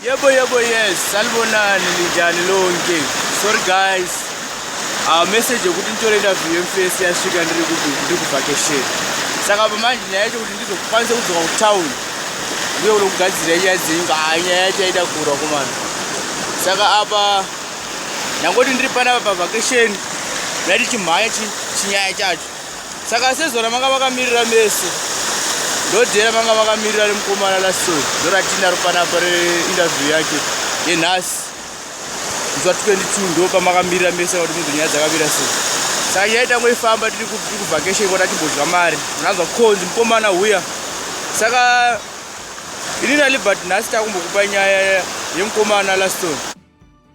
Yebo yebo yes salibonani linjani lonke sorry guys uh, message yekuti nditore interview yemfesi yasvika ndiri kuti ndiri kuvhakesheni saka pamanje nyaya yacho kuti ndizokwanisa kudzoka kutown ndiyo kuno kugadzira nyaya dzenyu ka ah, nyaya yacho yaida kurwa kumana saka apa ndangoti ndiri panapa pavhakesheni ndati chimhanya chinyaya chacho saka sezvona manga vakamirira mese ndodhera manga vakamirira remukomana laso ndoratinaro panapa reinterview yake yenhasi nzwa 22 ndo pamakamirira mese kuti munhu nyaya dzakamira se saka nyaya itangwe ifamba tiri kuvhakeshen kota timbodya mari unanzwa konzi mukomana huya saka ini nalibert nhasi takumbokupa nyaya yemukomana laston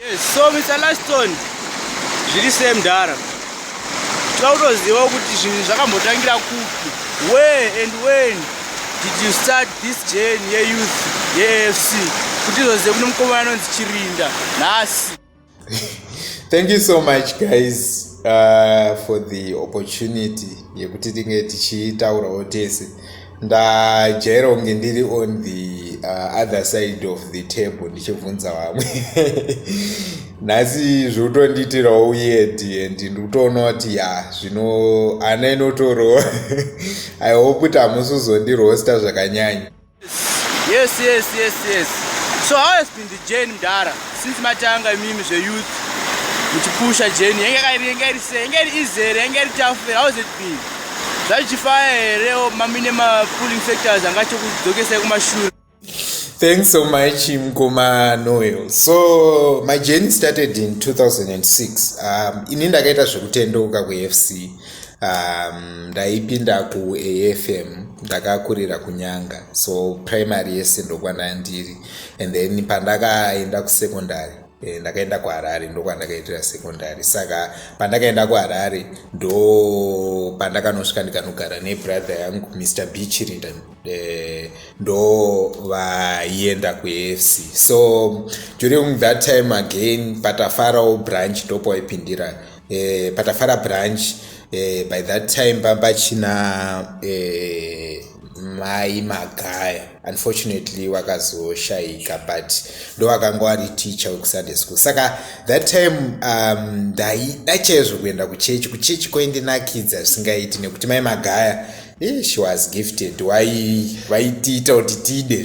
Yes, so Mr. Laston, zviri sei mdara? Tinoda kutozivawo kuti zvinhu zvakambotangira kupi? Where and when did you start this journey yeyouth yeAFC? Kuti izozive kune mukomana anonzi Chirinda nhasi. Thank you so much guys uh, for the opportunity yekuti tinge tichitaurawo tese. ndajaira kunge ndiri on the uh, other side of the table ndichibvunza vamwe nhasi zvotondiitirawo uyedi and ndikutoona kuti ya zvino ana inotorowa i hope kuti hamusi uzondirosta zvakanyanya yes yes yes yes so how has been the jane mdara since matanga imimi zveyouth muchipusha jane yenge kairi yenge iri se yenge iri izere yenge iri tafere how has it been zvachichifaya here mamine mapulling factors anga chikudzokesai kumashure thanks so much mkoma noel so my journey started in 2006 um, ini ndakaita zvekutendeuka kufc um, ndaipinda kuafm ndakakurira kunyanga so primary yese ndokwandandiri and then pandakaenda kusecondary Eh, ndakaenda kuharare ndokwandakaitira secondary saka pandakaenda kuharare ndo pandakanosvika ndikanogara nebrother yangu mr bichirinda eh, ndo vaienda kuafc so during that time again patafarawo branch ndopawaipindira eh, patafara branch eh, by that time pamba china eh, mai magaya unfortunately wakazoshaika but ndowakanga wari teacher wekusunday school saka that time um, ndaida chaizvo kuenda kuchechi kuchechi kwaindinakidza zvisingaiti nekuti mai magaya Eh, she was gifted why vaitiita kuti tide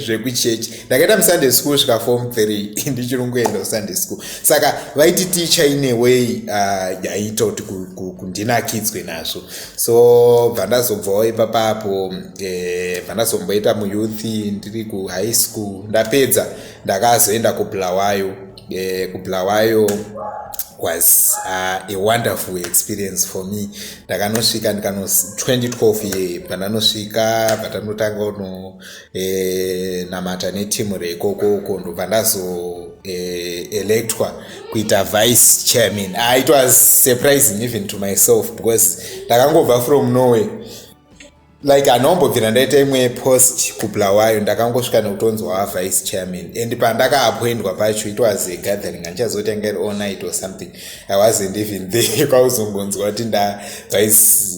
zvekuchurch zve ndakaita musunday school svika form three ndichiri kungoenda kusunday school saka vaiti ticha ine way ah, yaiita uh, kuti kundinakidzwe nazvo so bva ndazobvawo ipapapo bva eh, ndazomboita muyouth ndiri kuhigh school ndapedza ndakazoenda kubulawayo e, kubulawayo was uh, a wonderful experience for me ndakanosvika ndikano 2012 ye pandanosvika patanotanga uno e, namata netimu reikoko uko ndobva ndazo e, electwa kuita vice chairman uh, it was surprising even to myself because ndakangobva from norway like anombobvira ndaita imwe post kubulawayo ndakangosvika nekutonzwa vice chairman and pandakaapoindwa pacho it was a gathering andichazotanga iri all night or something i wasn't even there kwauzongonzwa kuti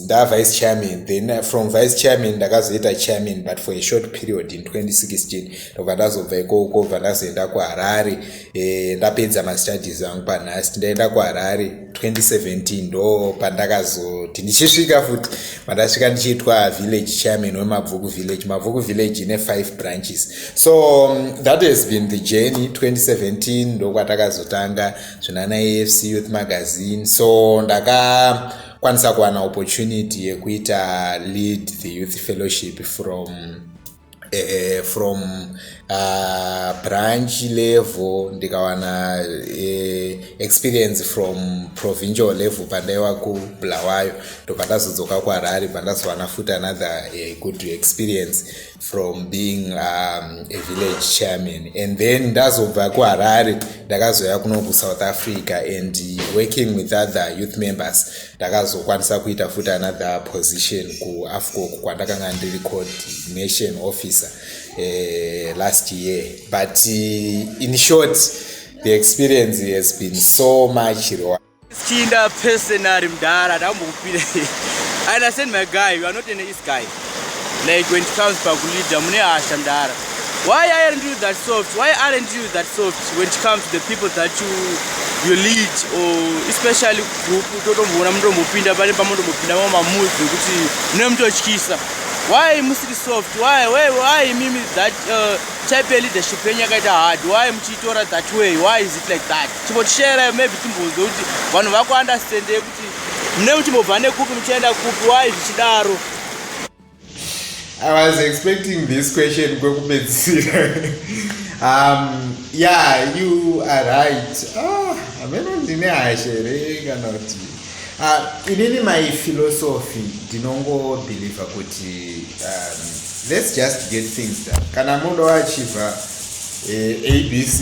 ndavice chairman then uh, from vice chairman ndakazoita chairman but for a short period in 2016 ndobva ndazobva ikoko bva ndazoenda kuharare eh, ndapedza mastudies angu panhasi ndaenda kuharare 2017 ndo pandakazoti ndichisvika futi pandasvika ndichiitwa village chairman wemabvuku village mabvuku village ine five branches so um, that has been the journey 2017 ndokwatakazotanga zvina naafc youth magazine so ndaka kwanisa kuwana opportunity yekuita lead the youth fellowship from eh, from uh, branch level ndikawana eh, experience from provincial level pandaiva kubulawayo ndobva ndazodzoka kuharare bva ndazowana futi another eh, good experience from being um, a village chairman and then ndazobva kuharare ndakazouya kuno kusouth africa and working with other youth members ndakazokwanisa kuita futi another position kuafcoc kwandakanga ndiri coordination officer uh, last year but uh, in short the experience has been so much chinda personary mdara ndambokupira and i send my guy you are not an east guy like when it comes pakuleader mune hasha mdara why aren't you that soft why aren't you that soft when it comes to the people that you you lead or especially group totomboona mutombopinda pane pamotombopinda mama mood zvekuti mune mutotyisa why musiri soft why why why mimi that uh, type ya leadership yenyu yakaita hard why muchiitora that way why is it like that chimbotishaira maybe timbonzwe kuti vanhu vakuunderstandei mune muchimbobva nekupi muchienda kupi wai zvichidaro i was expecting this question kwekupedzisira um, yeah you are right ah, ameno ah, ndine hasha here kana kuti uh, inini my philosophy ndinongobhilivha kuti um, let's just get things done kana muno achiva eh, abc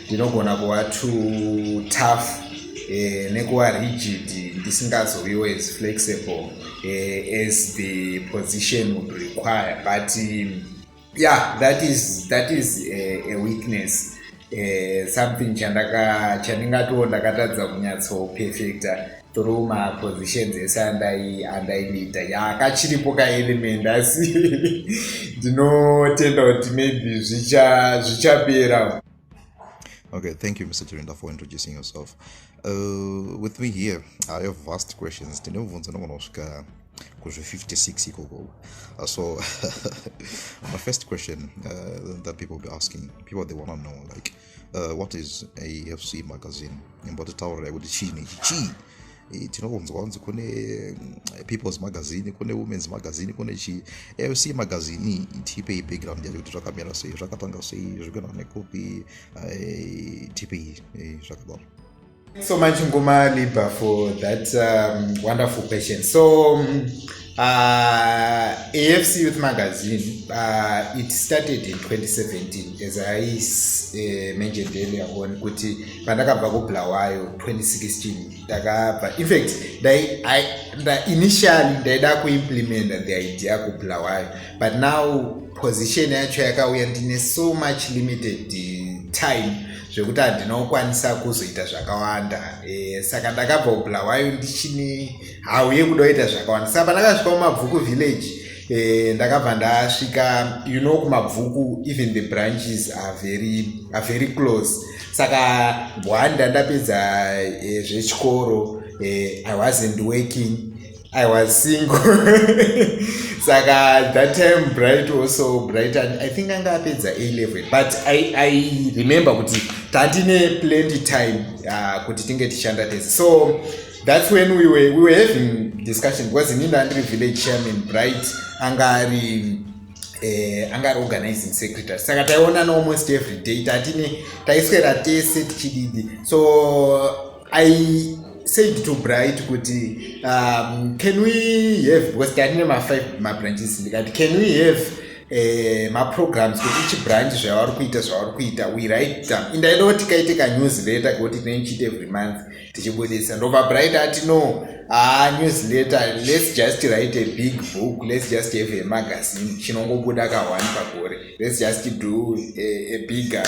ndinogona kuva to tough eh, nekuva rigid ndisingazoviwo as flexible eh, as the position would require but um, yeah that is, that is a, a weakness eh, something chandaka chandingatiwo ndakatadza kunyatsoperfecta through mapositions ese andaiita yakachiripo kaelement asi ndinotenda kuti maybe zvichapera okay thank you mr chirinda for introducing yourself uh, with me here i have vast questions tine mubvunzo nogona kusvika kuzve56 ikoko uh, so my first question uh, that people be asking people they want to know like uh, what is afc magazine imbotitaurirai kuti chiini ichi chii eh, tinokunzwa kunzi kune mm, peoples magazine kune womens magazine kune chii afc magazine tipei background yacho kuti zvakamira sei zvakatanga sei zvikuenda nekupi eh, tipei zvakadaro Thanks so much Ngoma Liba for that um, wonderful question. So um, uh, AFC Youth Magazine, uh, it started in 2017 as I uh, mentioned earlier on kuti pandakabva kubulawayo 2016 ndakabva in fact initially ndaida kuimplementa the idea kubulawayo but now position yacho yakauya ndine so much limited time zvekuti handina kukwanisa kuzoita zvakawanda e, saka ndakabva kubulawayo ndichine hau yekuda kuita zvakawanda saka pandakasvika kumabvuku village e, ndakabva ndasvika you know kumabvuku even the branches are very, are very close saka bwanda ndapedza e, zvechikoro e, i wasn't working I was single. Saka that time Bright also Bright and I think anga apedza A level but I I remember kuti tatine plenty time uh, kuti tinge tichanda tese. So that's when we were we were having discussion because in Inda Andri village chairman Bright anga ari eh, anga ari organizing secretary saka taiona no almost every day tatine taiswera tese tichididi so i said to bright kuti um, can we have because tatine mafive mabranches ndikati can we have eh, maprograms kuti ichi branch zvavari kuita zvavari kuita we write down indaida kuti kaite kanews letter kuti tinenchita every month tichibudisa ndobva bright ati no haa ah, news letter let's just write a big book let's just have a magazine chinongobuda ka one pagore let's just do a, a bigger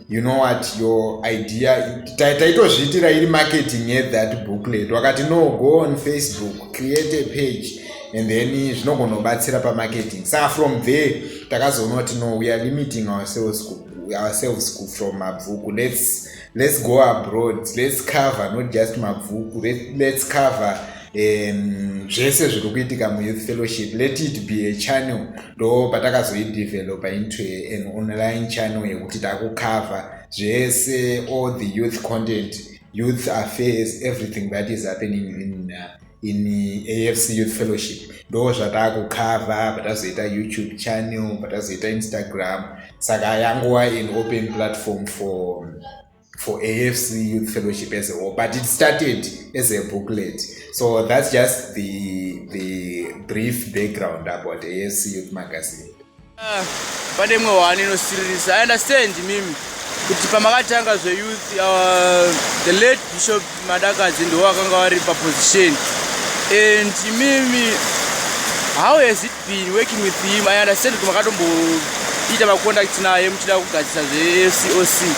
you know what your idea taitozviitira iri marketing at that booklet wakati no go on facebook create a page and then zvinogona kubatsira pamarketing saka from there takazoona kuti no we are limiting ourselves ku, ourselves ku from mabvuku let's let's go abroad let's cover not just mabvuku Let, let's cover um, zvese zviri kuitika muyouth fellowship let it be a channel ndo patakazoidevelopa into an online channel yekuti takucover zvese all the youth content youth affairs everything that is happening in, uh, in afc youth fellowship ndo zvatakucover patazoita youtube channel patazoita instagram saka yanguwa an open platform for for afc youth fellowship as a whole but it started as a booklet so that's just the, the brief background about afc youth magazine ah, pane imwe hwani inosiririsa i understand mimi kuti pamakatanga zveyouth uh, the late bishop madakadzi ndiwo akanga vari paposition and imimi how has it been working with him i understand kuti makatomboita macontact naye muchida kugadzisa zvecoc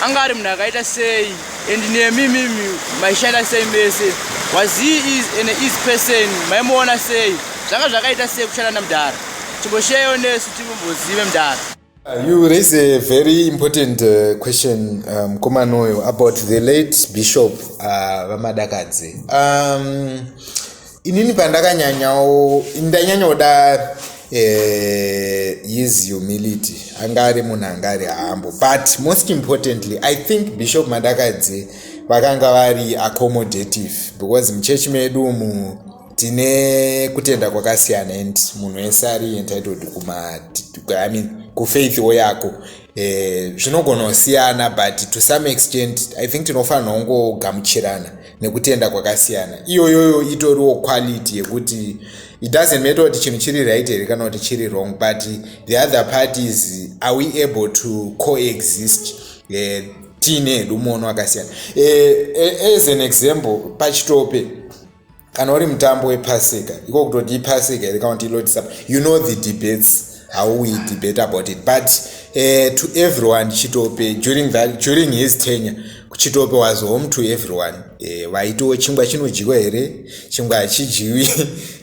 anga ari munhu akaita sei and nemi mimi maishanda sei mese was he is an easy person maimuona sei zvanga zvakaita sei kushanda namudhara chimbosheyo nesu timumbozive mudhara Uh, you raise a very important uh, question um, mukomana um, uyo about the late bishop uh, vamadakadzi uh, um, inini pandakanyanyawo ndanyanyoda uh, his humility anga ari munhu anga ari hambo but most importantly i think bishop madakadzi vakanga vari accommodative because muchechi medu mu tine kutenda kwakasiyana and munhu wese ari entitled kumai mean kufaithiwo yako eh, zvinogona eh, kusiyana but to some extent i think tinofanira kungogamuchirana nekutenda kwakasiyana iyoyoyo itoriwo quality yekuti it doesn't matter kuti chinhu chiri right here kana kuti chiri wrong but the other part is are we able to coexist eh, tiine hedu muono wakasiyana eh, eh, as an example pachitope kana uri mutambo wepasika iko kutoti ipasika here kana kuti ilotisap you know the debates how we debate about it but uh, to everyone chitope during, that, during his tenure chitope was home to everyone eh, vaitiwo uh, chingwa chinodyiwa here chingwa hachidyiwi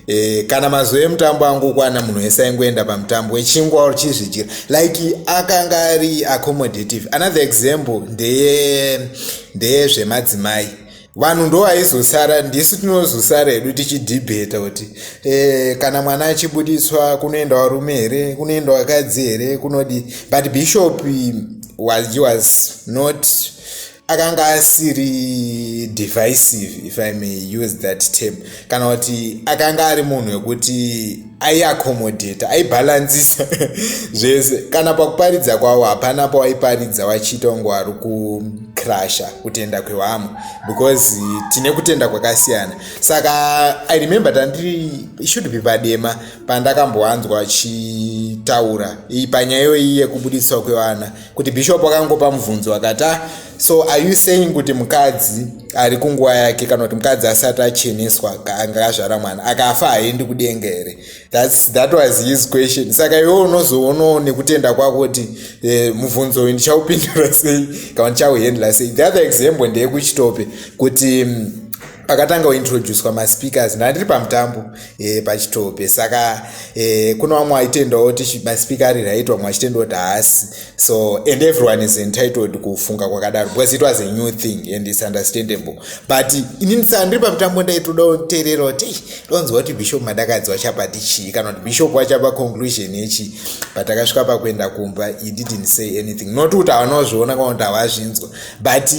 uh, kana mazuva emutambo angokwana munhu wese aingoenda pamutambo wechingwa or chizvidyira like akanga ari accommodative another example ndeye ndeyezvemadzimai vanhu ndo vaizosara ndisu tinozosara hedu tichidhibheta kuti e, kana mwana achibudiswa kunoenda varume here kunoenda vakadzi here kunodi but bishop was, he was not akanga asiri divisive if i may use that term kana kuti akanga ari munhu wekuti aiakomodheta aibhalansisa zvese kana pakuparidza kwavo hapana pawaiparidza wachiita kunge wari kucrasha kutenda kwevamwe because tine kutenda kwakasiyana saka i remember tandiri should be padema pandakambowanzwa achitaura panyaya iyoyi yekubudiswa kwevana kuti bishop akangopa mubvunzo akati ah, so are you saying kuti mukadzi ari kunguva yake kana kuti mukadzi asati acheneswa anga azvara mwana akafa haendi kudenga here thats that was his question saka iwe unozoonawo nekutenda kwako kuti eh, mubvunzo uyu ndichaupindura sei kana ndichauhendla sei the other example ndeyekuchitope kuti mm, pakatanga kuintroducwa maspeakers ndandiri pamutambo e, pachitope saka e, kuna vamwe vaitendawo kuti maspeaker ari right vamwe vachitendawo kuti haasi so and everyone is entitled kufunga kwakadaro because it was a new thing and its understandable but inini saka ndiri pamutambo ndaitoda kuteerera kuti ndonzwa kuti bishop madakadzi wachapati chii kana kuti bishop wachapa conclusion yechi but akasvika pakuenda kumba he didn't say anything not kuti havanozviona kana kuti havazvinzwa but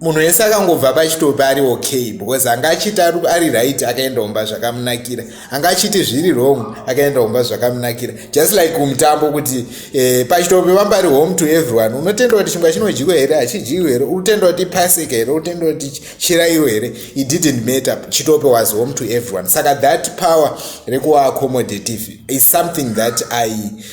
munhu wese akangobva pachitopi ari okay because anga achiti ari right akaenda kumba zvakamunakira anga achiti zviri wrong akaenda kumba zvakamunakira just like kumutambo kuti eh, pachitopi vamba ari home to everyone unotenda kuti chingwa chinodyiwa here hachidyiwi here utenda kuti pasika here utenda kuti chirairo here it didn't matter chitopi was home to everyone saka that power rekuva accommodative is something that i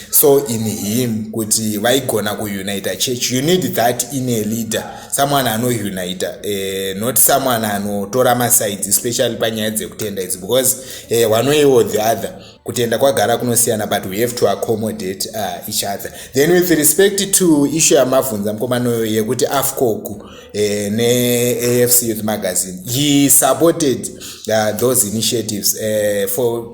saw in him kuti vaigona kuunita church you need that in a leader someone anounita eh, not someone anotora masides especially panyaya dzekutenda idzi because eh, one way or the other kutenda kwagara kunosiyana but we have to accommodate uh, each other then with respect to issue yamavhunza mukomanoyo yekuti afcogu eh, neafc youth magazine he supported uh, those initiatives eh, for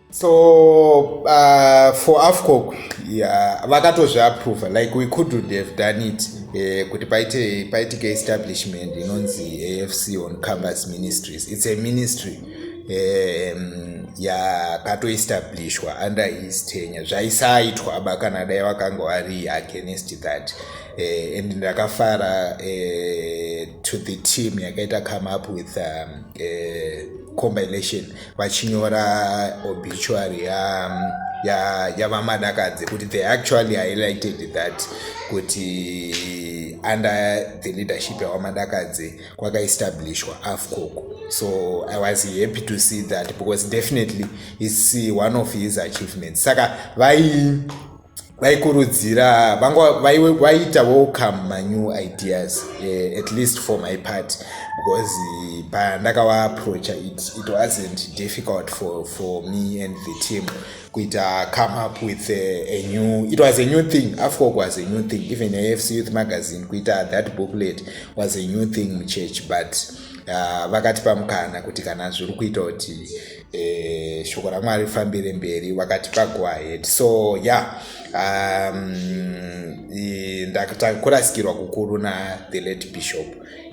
so uh, for afcoc yeah, vakatozviaprova like we couldn't have done it eh, kuti paite paitike establishment inonzi afc on campus ministries it's a ministry um, yakatoestablishwa under his tenure zvaisaitwa aba kana dai vakanga vari against that uh, and ndakafara uh, to the team yakaita come up with um, uh, compilation vachinyora obituary yavamadakadzi ya, ya kuti they actually highlighted that kuti under the leadership yavamadakadzi kwakaestablishwa afcoco so i was happy to see that because definitely its one of his achievements saka vai vaikurudzira vanga vaiita welcome manew ideas uh, at least for my part because eh, pandakavaapproacha it, it wasn't difficult for, for me and the team kuita come up with a, a new it was a new thing afcok was a new thing even afc youth magazine kuita that booklet was a new thing muchurch but uh, vakatipa mukana kuti kana zviri kuita kuti eh, shoko ramwari rifambire mberi vakati pago ahead so ya yeah, um, ndakurasikirwa kukuru na the late bishop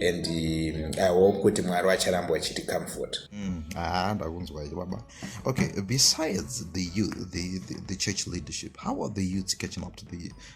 and um, i hope kuti mwari vacharamba vachiti comfort mm, ah, ndakunzwa iyo baba okay besides the, the, the, the church leadership how are the youths catching up to the,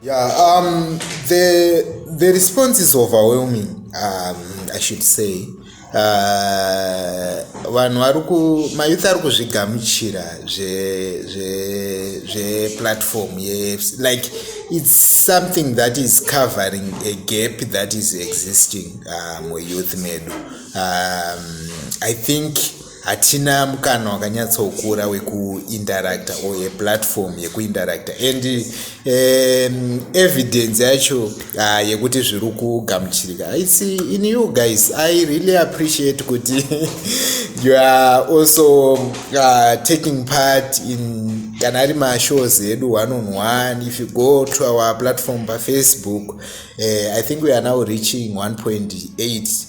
Yeah, um, the, the response is overwhelming, um, I should say. Uh, vanhu vari ku mayouth ari kuzvigamuchira zveplatform ye like it's something that is covering a gap that is existing uh, muyouth medu um, i think hatina mukana wakanyatsokura wekuinteracta or yeplatform yekuinteracta and um, evidence yacho uh, yekuti zviri kugamuchirika haisi in you guys i really appreciate kuti you are also uh, taking part in kana ari mashows edu one on one if you go to our platform pafacebook uh, i think we are now reaching 1.8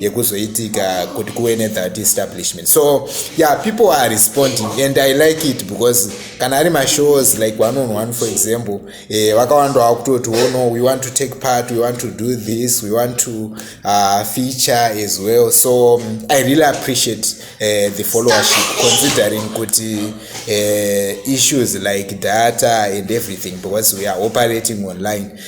yekuzoitika kuti kuve nethat establishment so yeah people are responding and i like it because kana ari mashows like one on one for example eh, vakawanda eh, vakutoti oh no we want to take part we want to do this we want to uh, feature as well so um, i really appreciate uh, the followership considering kuti uh, issues like data and everything because we are operating online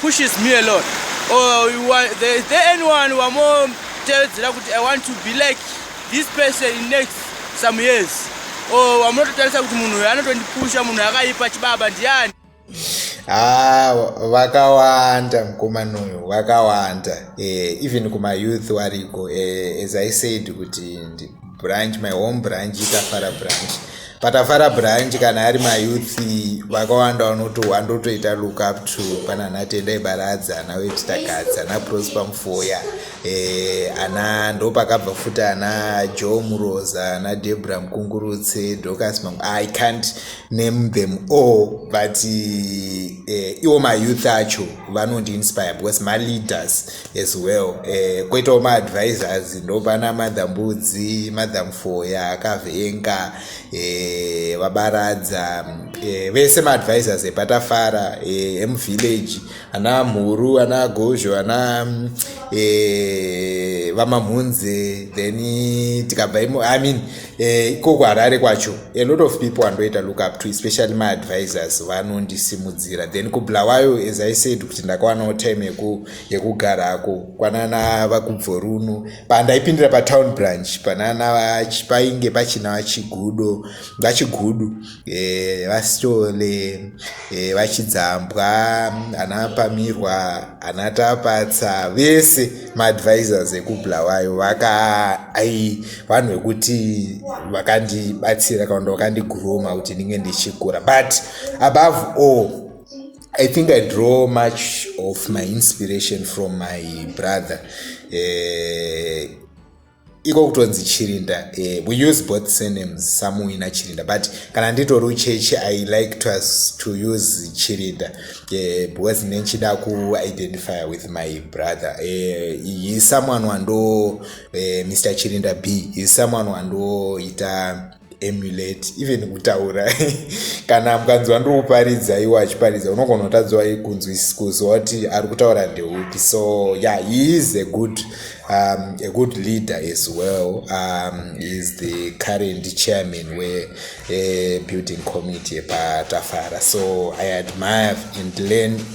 pushes me a lot or you want, there, is there anyone wamotevedzera kuti i want to be like this person in next some years or wamunototarisa kuti munhu uyo anotondipusha munhu akaipa chibaba ndiani haa ah, vakawanda mukomana uyu vakawanda eh, even kumayouth wariko eh, as i said kuti branch my home branch itafara branch patafara branch kana ari mayouth vakawanda vanoti wandotoita look up to pana natendai baradza ana wetitagadzi ana prosper mufoya eh, ana ndo pakabva futi ana joe muroza ana debra mukungurutse docas mam i can't name them all but eh, iwo mayouth acho vanondi inspire because maleaders as well eh, koitawo maadvisors ndopana mother mbudzi mother mfoya akavenga eh, vabaradza eh, vese maadvisors epatafara eh, emuvillage ana mhuru ana gozho ana eh, vamamhunze then tikabva imo i mean Eh, ikoko uh, harare kwacho a lot of people andoita look up to especially my advisors vanondisimudzira then kubulawayo as i said kuti ndakawanawo time yekugarako kwanana vakubvoruno pandaipindira patown branch panana painge pachina vachigudo vachigudu e, vasitole e, vachidzambwa ana pamirwa ana tapatsa vese maadvisors ekubulawayo vaka ai vanhu vekuti vakandibatsira kana kuti vakandiguroma kuti ndinge ndichikura but above all I think I draw much of my inspiration from my brother. Uh, iko kutonzi chirinda eh, we use both surnames samuwi nachirinda but kana nditori ucheche i like to, us, to use chirinda eh, because ne ndichida kuidentify with my brother eh, he someone wando eh, mr chirinda b he someone wandoita emulate even kutaura kana mukanzwa ndiri kuparidza iwo achiparidza unogona kutadzwa kunzwisikuziwa kuti ari kutaura ndeupi so ya yeah, he is a good um, a good leader as well um, is the current chairman we uh, building committee patafara so i admire and learn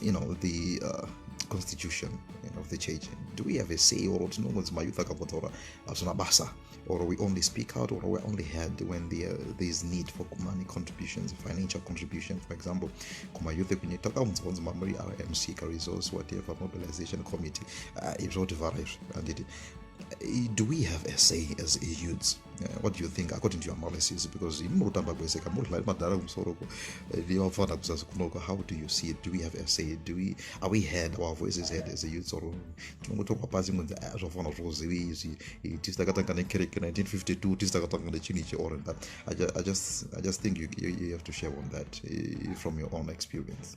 you know the uh, constitution you know, of the church do we have a say or tinongonzi mayouth akavotaura hazvina basa or we only speak out or we're only heard when there, there is need for money contributions financial contribution for example kumayouth ekunye takaunzwa kunzi mamuri rmc resource whatever mobilization committee uh, izvoti vhara izvi handiti Eh, do we have a say as youths uh, what do you think according to your analysis because imi murikutamba kwese ka murikudlari madhara kumusoro ko eh, nevafanira kuzasi kunoko how do you see it do we have a say do we are we heard our voices heard as a youths or tinongotorwa pasi kunzi ah, zvafanira zvokuzivi izvi eh, tisi takatanga nekereke 1952 tisi takatanga nechinhu ichi or that I just, I just, I just think you, you, you have to share on that uh, from your own experience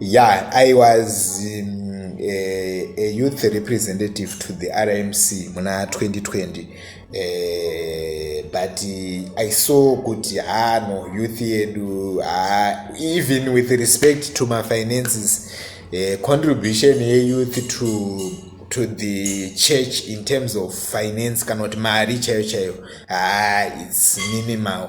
yeah i was um, a, a youth representative to the rmc muna 2020 uh, but uh, i saw kuti haa no youth yedu haa even with respect to mafinances uh, contribution yeyouth to to the church in terms of finance kana kuti mari chaiyo chaiyo haa its minimal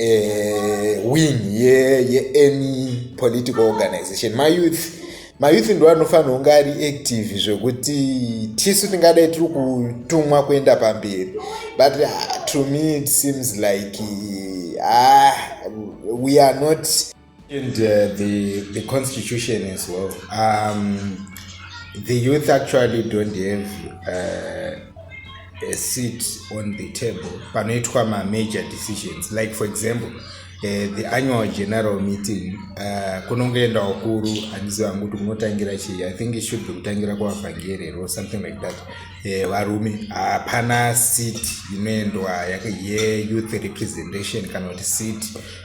uh, wing yeany ye, ye political organization mayouth mayouth ndo anofanira kunge ari active zvekuti tisu tingadai tiri kutumwa kuenda pamberi but uh, to me it seems like uh, we are not And uh, the, the constitution as well. Um, the youth actually don't have uh, a seat on the table panoitwa ma major decisions like for example uh, the annual general meeting uh, kunongoenda wakuru handizi vangu kuti kunotangira chii i think it should be kutangira kuvavhangeri or something like that eh, varume uh, hapana uh, seat inoendwa yeyouth representation kana kuti seat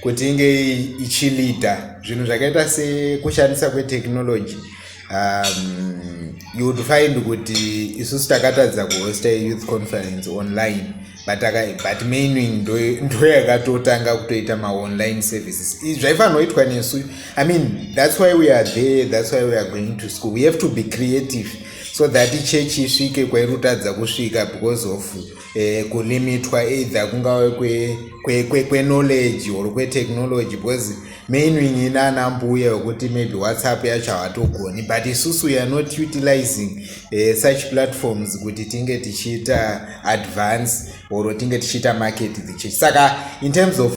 kuti inge ichilida zvinhu zvakaita sekushandisa kwetechnology um, you would find kuti isusu takatadza kuhosta youth conference online but, but maining ndo yakatotanga kutoita maonline services zvaifanoitwa nesu i mean that's why we are there that's why we are going to school we have to be creative so that church isvike kwairutadza kusvika because of eh, kulimitwa either kungave kweknowledge kwe, kwe, kwe or kwetechnology because mainwing inana mbuya wekuti maybe whatsapp yacho hawatogoni but isusu weare not utilizing uh, such platforms kuti tinge tichiita advance or tinge tichiita market the church saka in terms of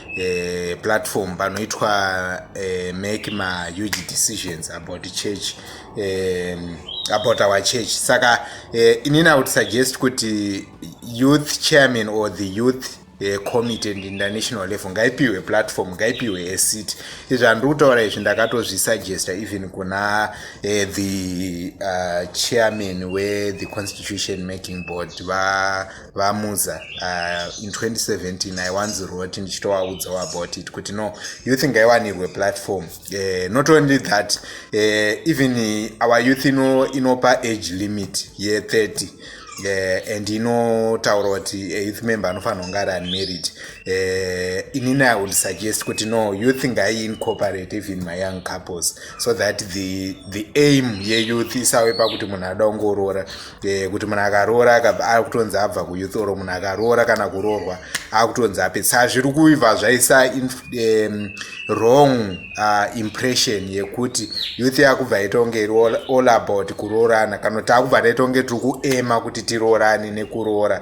eh, platform panoitwa eh, make mahuge decisions about church eh, about our church saka eh, inini i would suggest kuti youth chairman or the youth eh, committee and international level ngaipiwe platform ngaipiwe a seat izvi handiri kutaura izvi ndakatozvisuggesta even kuna eh, the uh, chairman wethe constitution making board va vamuza uh, in 2017 i once wrote ndichitovaudzawo about it kuti no youth ngaiwanirwe platform uh, not only that uh, even our youth ino inopa age limit ye30 uh, and inotaura kuti a youth member anofanira kunge ari unmarried uh, inini i would suggest kuti no youth ngaiincorporate even my young couples so that the, the aim yeyouth isawe pakuti munhu ada kungoroora Eh, kuti munhu akaroora akabva akutonzi abva kuyouth or munhu akaroora kana kuroorwa akutonzi apetsa zviri kuibva zvaisa um, wrong uh, impression yekuti youth yakubva yaitongeri all about kuroorana kana kuti akubva taitongeri tiri kuema kuti tiroorane nekuroora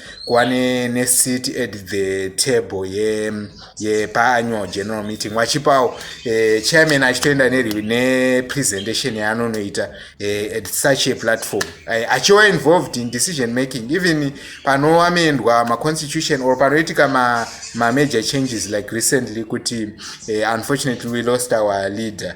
kuva neseat at the table yepaannual general meeting vachipawo eh, chairman achitoenda nepresentation yaanonoita eh, at such a platform eh, achiwa involved in decision making even panoamendwa maconstitution or panoitika mamajor changes like recently kuti unfortunately we lost our leader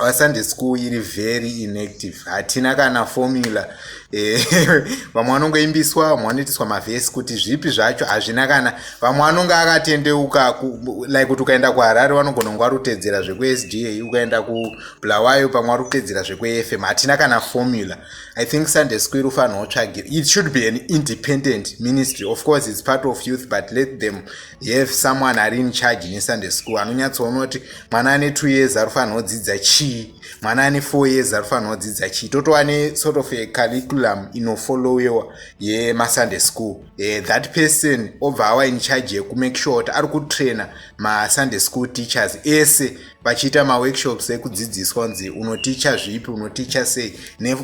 our sunday school iri very inactive hatina kana formula eh, vamwe vanongoimbiswa vamwe vanoitiswa mavhesi kuti zvipi zvacho hazvina kana vamwe vanonge akatendeuka like kuti ukaenda kuharare vanogona kunge varutedzera zvekuesda ukaenda kubulawayo pamwe varutedzera zvekuefm hatina kana formula i think sunday school irufanira utsvagir it should be an independent ministry of course its part of youth but let them If someone ari in charge nesunday school anonyatsoona kuti mwana ane two years ari kufanirwa kudzidza chii mwana ane four years ari kufanirwa kudzidza chii totova ne sort of a curriculum inofollowewa yemasunday school eh, that person obva awa in charge yekumake sure kuti ari kutraina masunday school teachers ese vachiita maworkshops ekudzidziswa kunzi unoticha zvipi unoticha sei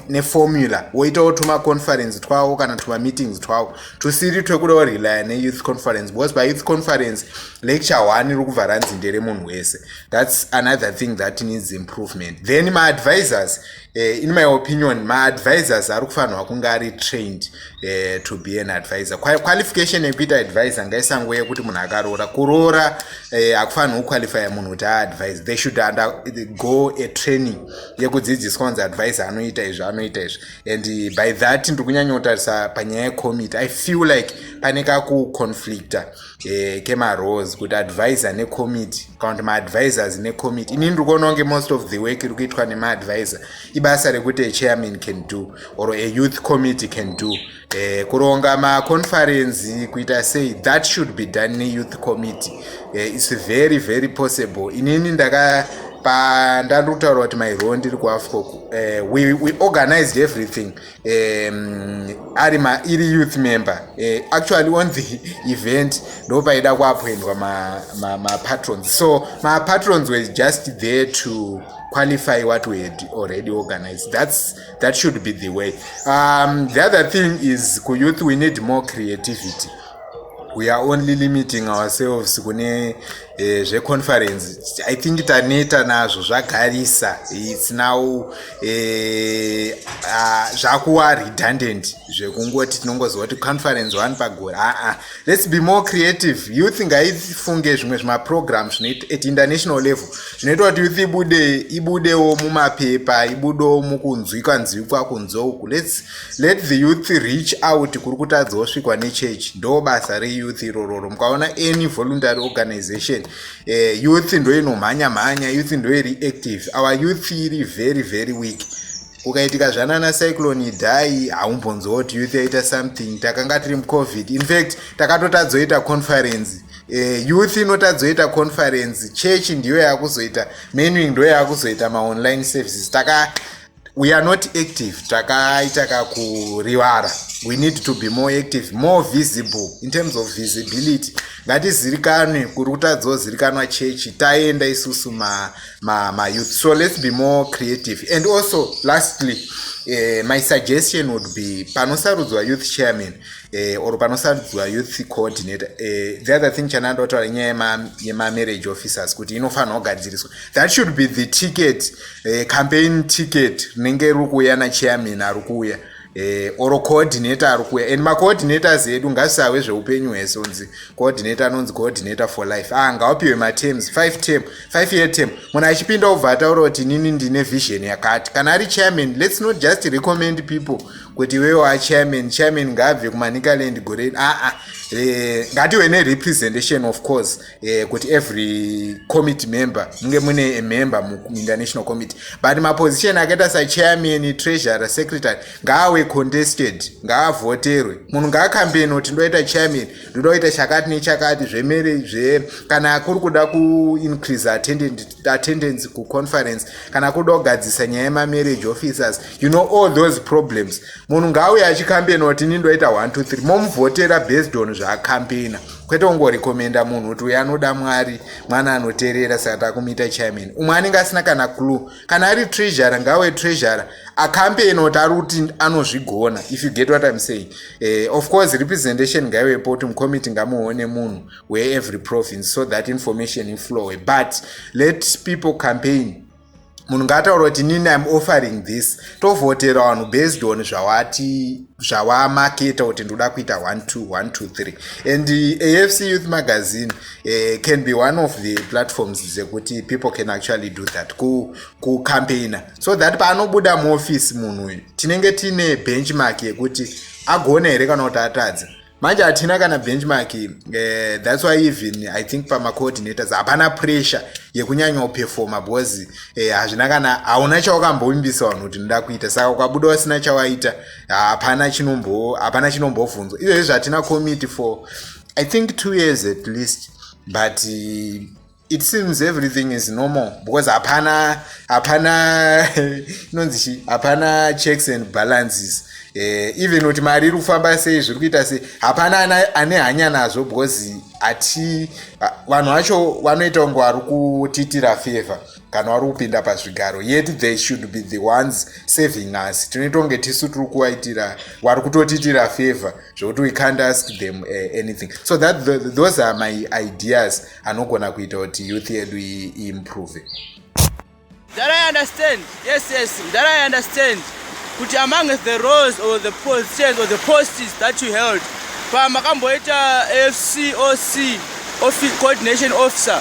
neformula ne woitawo tumaconference twavo kana tumameetings twavo tusiri twekuda kurelya neyouth conference because payouth conference lecture one iri kubva ranzi nderemunhu wese thats another thing that needs improvement then maadvisors Uh, in my opinion maadvisors ari kufanirwa kunge ari trained uh, to be an advisor qualification yekuita advisor ngaisango yekuti munhu akaroora kuroora eh, akufanirwa kuqualifya munhu kuti aadvise they should under, go a training yekudzidziswa kunzi advisor anoita izvi anoita izvi and by that ndiri kunyanyotarisa panyaya yecommitte i feel like pane kakuconflicta e, kemarose kuti advisor necommittee kana kuti maadvisors necommittee ini ndiri kuona kunge most of the work iri kuitwa nemaadvisor ibasa rekuti achairman can do or ayouth committee can do e, kuronga maconferenzi kuita sei that should be done neyouth committee e, its very very possible inini ndaka pandandiri kutaura kuti mairoo ndiri kuafcok uh, eh, we, we organized everything um, ari ma iri youth member uh, actually on the event ndo paida kuappoindwa mapatrons ma, ma so mapatrons were just there to qualify what we had already organized that's that should be the way um, the other thing is ku youth we need more creativity we are only limiting ourselves kune Eh, zveconference i think taneta nazvo zvagarisa its now eh, ah, zvakuva redundant zvekungoti tinongoziva kuti conference one pagore aa ah, ah. let's be more creative youth ngaifunge zvimwe zvimaprogram at international level zvinoita kuti youth ibude ibudewo mumapepa ibudewo mukunzwika nzwikwa kunzouku let's let the youth reach out kuri kutadza osvikwa nechurch ndo basa reyouth irororo mukaona any voluntary organization eh, youth ndoinomhanya mhanya youth ndoiri active our youth iri very very weak kukaitika zvanana cyclone idai haumbonzoti youth yaita something takanga tiri mucovid infact takatotadzoita conference eh, youth inotadzoita conference church ndiyo yakuzoita menuing ndo yakuzoita maonline services taka we are not active takaita kakurivara we need to be more active more visible in terms of visibility ngatizirikanwe kuri kutadzozirikanwa chechi taenda isusu mayouth ma, ma so let's be more creative and also lastly uh, my suggestion would be panosarudzwa youth chairman eh, or panosarudzwa youth coordinator eh, the other thing chananda otaura nyaya yemamarriage officers kuti inofanirwa kugadziriswa that should be the ticket eh, campaign ticket rinenge riri kuuya nachairman ari kuuya eh, or coordinator ari kuuya and macoordinators edu ngazvisahwe zveupenyu hwese unzi coordinator anonzi coordinator for life ah ngawapiwe matems five term five year term munhu achipinda obva ataura kuti nini ndine vision yakati kana ari chairman let's not just recommend people kuti iwewe wachairman chairman ngaabve kumanicaland gore aa ah, ah, eh, ngatiwe nerepresentation of course eh, kuti every committee member munge mune amember muinternational committee but maposition akaita sachairman treasurer secretary ngaawe contested ngaavhoterwe munhu ngaakambeni kuti ndoita chairman ndodoita chakati nechakati zvemere zve kana kuri kuda kuincrease attendant attendance kuconference kana kuda kugadzisa nyaya yemamarriage officers you know all those problems munhu ngaauye achikambeina kuti ini ndoita 123 momuvhotera based on zvaakambeina kwete kungorekomenda munhu kuti uyo anoda mwari mwana anoterera saka takumuita chairman umwe anenge asina kana clue kana ari treasure ngawe treasure akambeina kuti ari kuti anozvigona if you get what im saying eh, of course representation ngaiwepo kuti mucommittee ngamuone munhu where every province so that information inflowe but let people campaign munhu ngaataura kuti nini im offering this tovhotera vanhu based on zvawati zvawamaketa kuti ndoda kuita 1213 and afc youth magazine uh, can be one of the platforms dzekuti people can actually do that kucampaigna ku so that paanobuda muoffice munhu uyu tinenge tiine benchmark yekuti agona here kana kuti atadza manje hatina kana benchmark eh, thats why even i think pamacoordinators hapana pressure yekunyanya uperforma because eh, hazvina eh, kana hauna chaukambovimbisa vanhu kuti ndoda kuita saka ukabuda wasina chawaita hapana chinombo hapana chinombovhunzwa izvezvi zvatina committee for i think two years at least but eh, it seems everything is normal because hapana hapana inonzi chi hapana checks and balances eh, even kuti mari iri kufamba sei zviri kuita sei hapana ane hanya nazvo because hati vanhu vacho vanoita kunge vari kutitira favor kana vari kupinda pazvigaro yet they should be the ones saving us tinoita kunge tisu tiri kuvaitira vari kutotitira favor zvekuti we can't ask them uh, anything so that the, those are my ideas anogona kuita kuti youth yedu iimprove that i understand yes yes that i understand kuti among the roles or the positions or the posts that you held pamakamboita fcoc office coordination officer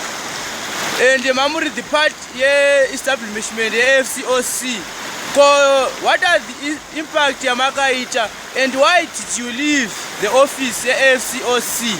and mamuri the part yeestablishment yefcoc ko what are the impact yamakaita and why did you leave the office yefcoc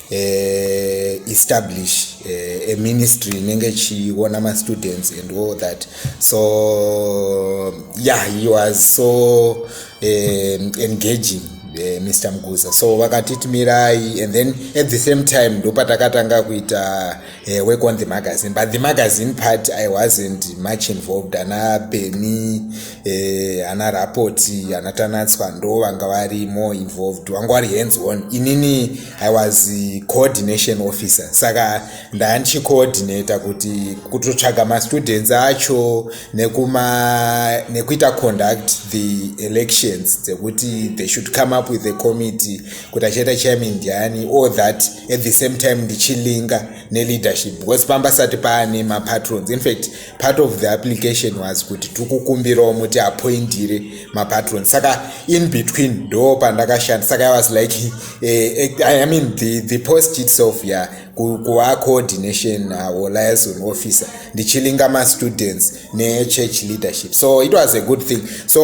uh, establish uh, a ministry inenge ichiona mastudents and all that so yeah he was so um, engaging uh, mr mguza so vakatitimirai and then at the same time ndopatakatanga kuita uh, work on the magazine but the magazine part i wasn't much involved ana beni uh, eh, ana rapoti ana tanatswa ndo vanga vari more involved vanga vari hands on inini i was coordination officer saka ndaa ndichicoordinata kuti kutotsvaga mastudents acho nekuma nekuita conduct the elections dzekuti they should come up with a committee kuti achaita chairman ndiani all that at the same time ndichilinga neleadership because pamba sati paane mapatrons in fact part of the application was kuti tikukumbirawo muti appointire mapatrons saka in between ndo pandakashanda saka i was like eh, eh, i mean the, the post itself ya yeah, kuva coordination uh, or liaison officer ndichilinga mastudents nechurch leadership so it was a good thing so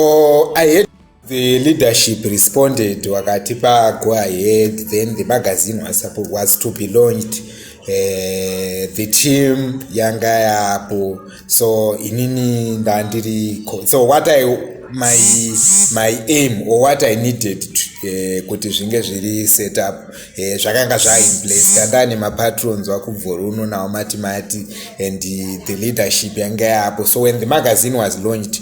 i had The leadership responded wakatipa go ahead then the magazine was, was to be launched uh, the team yanga yapo so inini ndandiri so what i my, my aim or what i needed to Eh, kuti zvinge zviri set up eh, zvakanga zvainplace tanda nemapatrons vakubvoruno nawo mati mati and the leadership yanga yaapo so when the magazine was launched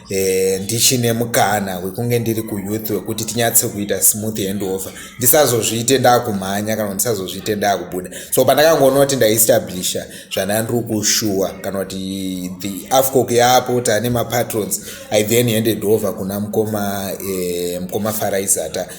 e, ndichine mukana wekunge ndiri kuyouth wekuti tinyatse kuita smooth handover ndisazozviite ndakumhanya kana kuti ndisazozviite ndakubuda so pandakangoona kuti ndaiestablisha zvanandiri kushuwa kana kuti the afcoc yapo tane mapatrons i then handed over kuna mukoma e, mukoma faraizata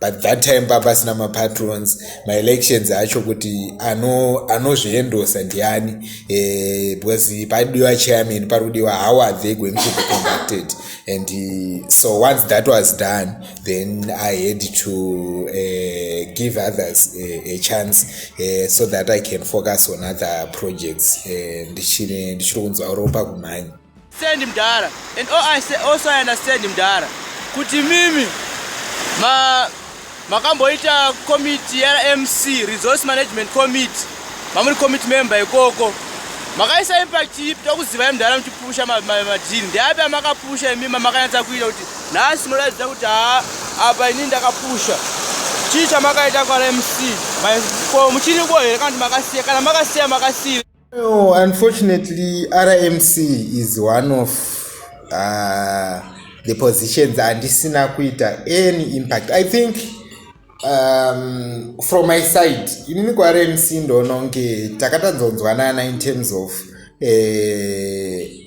but that time papasina mapatrons maelections acho kuti anozviendosa ano ndiani e, because padiwa chairman pari kudiwa how are they going to be conducted and uh, so once that was done then i had to uh, give others a, a chance uh, so that i can focus on other projects ndichiri kunzwa ropa kumhanya Send mdara and oh, I say, also I understand mdara kuti mimi ma makamboita committee ya MC resource management committee mamuri committee member ikoko makaisa impact ipi tokuzivai mdara muchipusha madhiri ndeapi amakapusha imi mamakanyatsa kuita kuti nhasi munoratidza kuti haa apa ini ndakapusha chii chamakaita kwa MC ko muchiriko here kana kuti makasiya kana makasiya makasiya No, unfortunately rmc is one of uh, the positions andisina kuita any impact i think um, from my side inini kurmc ndoononge takatanzonzwanana in terms of uh,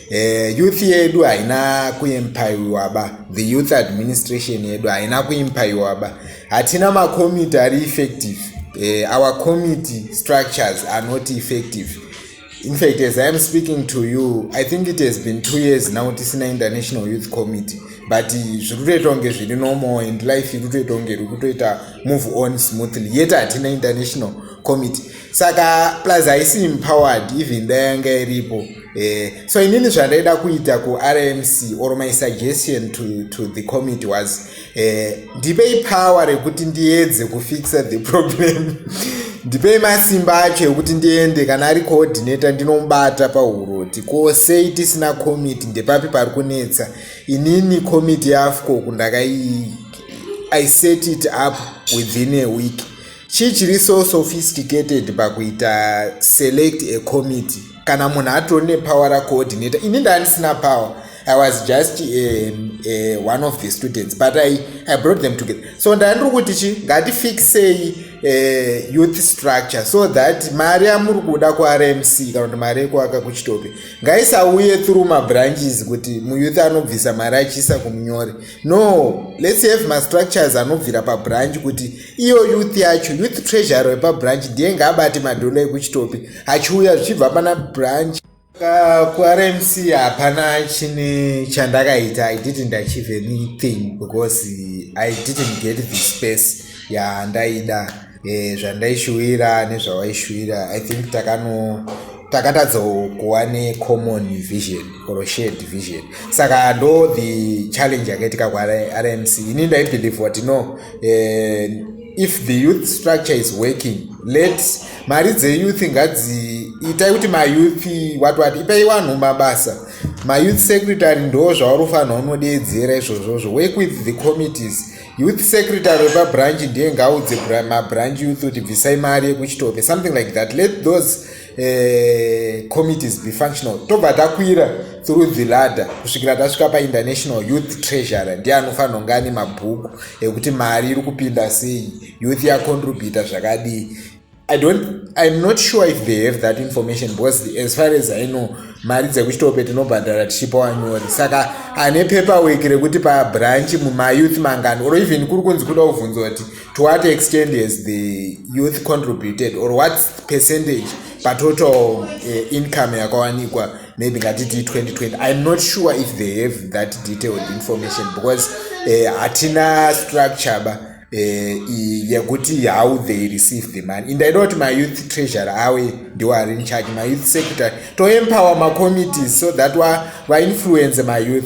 Eh, youth yedu haina kuempaiwa ba the youth administration yedu haina kuempaiwa ba hatina macommittee ari effective eh, our committee structures are not effective in fact as i am speaking to you i think it has been two years now tisina international youth committee but zviri kutoita kunge zviri normal and life iri kutoita kunge iri kutoita move on smoothly yet hatina international committee saka plus haisi empowered even dayanga iripo Eh, so inini zvandaida kuita kurmc or my suggestion to, to the committee was eh, ndipei power rekuti ndiedze kufixa the problem ndipei masimba acho ekuti ndiende kana ari coordinator ndinomubata pauroti ko sei tisina committee ndepapi pari kunetsa inini committee yafcoku ndakai i set it up within a week chii chiri so sophisticated pakuita select a committee kana munhu atori nepower racoordinator ini ndandisina power i was just eh, eh, one of the students but i, I brought them together so ndandiri kuti chi ngatifixei eh, youth structure so that mari yamuri kuda kurmc kana kuti mari yekuaka kuchitope ngaisauye through mabranches kuti muyouth anobvisa mari achiisa kumunyori no lets have mastructures anobvira pabranch kuti iyo youth yacho youth treasury wepabranch ndiye ngaabate madhola ekuchitope achiuya zvichibva pana branch kurmc hapana chine chandakaita i didn't achieve anything because i didn't get the space yandaida e, zvandaishuwira nezvawaishuwira i think takano takatadza kuva necommon vision or shared vision saka ndo the challenge yakaitika kurmc ini ndaibelieve kuti no e, if the youth structure is working let mari dzeyouth ngadzi itai kuti mayouth wati wati ipai vanhu mabasa mayouth secretary ndo zvaurifanira unodeedzera izvozvozvo work with the committees youth secretary wepabranch ndiye ngaudze mabranch youth kuti bvisai mari yekuchitope something like that let those uh, committees be functional tobva takwira through the ladder kusvikira tasvika painternational youth treasurer ndiye anofanira kunge ane mabhuku ekuti mari iri kupinda sei youth yacontributa zvakadii i don't i'm not sure if they have that information because the, as far as i know mari dzekuchitope tinobhadhara tichipa wanyori saka ane paperwork rekuti pabranch mumayouth mangani or even kuri kunzi kuda kuvhunza kuti to what extent has the youth contributed or what percentage patotal uh, income yakawanikwa maybe ngatiti 2020 i'm not sure if they have that detailed information because eh, hatina uh, structure ba eh, yekuti e, how they receive the money and i know kuti mayouth treasure awe ndiwo ari in charge mayouth secretary toempower macommittees so that vainfluence mayouth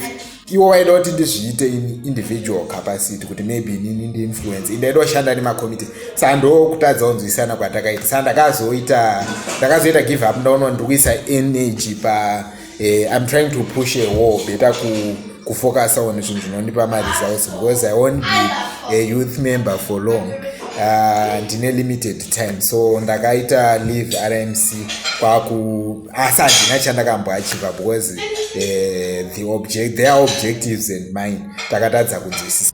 iwo waida kuti ndizviite in individual capacity kuti maybe inini ndiinfluence inda ida kushanda nemacommittees sa ndokutadza kunzwisana kwatakaita sa ndakazoita ndakazoita give up ndaona ndiri kuisa energy pa Eh, I'm trying to push a wall better ku kufocus on zvinhu zvinondipa maresults because I won't be a youth member for long ah, ndine uh, limited time so ndakaita leave RMC kwaku asi ah, handina chandakamboachiva because uh, the object their objectives and mine takatadza kunzwisisa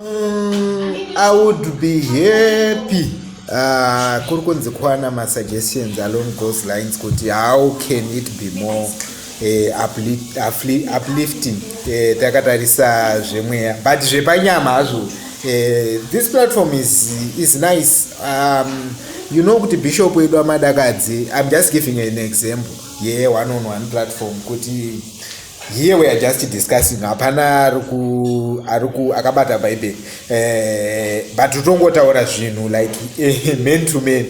Mm, I would be happy uh, kuri kunzi kwana masuggestions along those lines kuti how can it be more uh, uplifting uh, takatarisa zvemweya but zvepanyama hazvo uh, this platform is, is nice um, you know kuti bishop wedu amadakadzi i'm just giving an example ye yeah, one on one platform kuti here we are just discussing hapana ariku ariku akabata bhaibheri eh, but utongotaura zvinhu like eh, man to man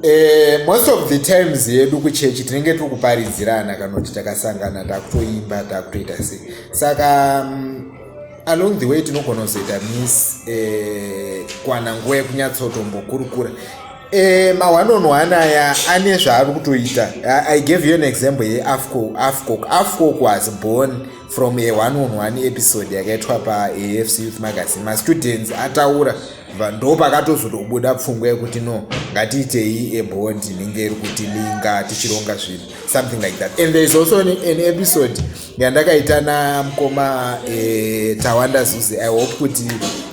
eh, most of the times yedu kuchechi tinenge tiri kuparidzirana kana kuti takasangana takutoimba takutoita sei saka um, along the way tinogona kuzoita miss eh, kwana nguva yekunyatsotombokurukura Eh, ma one on one aya ane zvaari kutoita i gave you an example yeafcoc afcoc afcoc was born from a one on one episode yakaitwa paafc youth magazine mastudents ataura ndo pakatozotobuda pfungwa yekuti no ngatiitei abond inenge iri kuti linga tichironga zvinhu something like that and there is also an, an episode yandakaita namukoma e, tawanda zuzi i hope kuti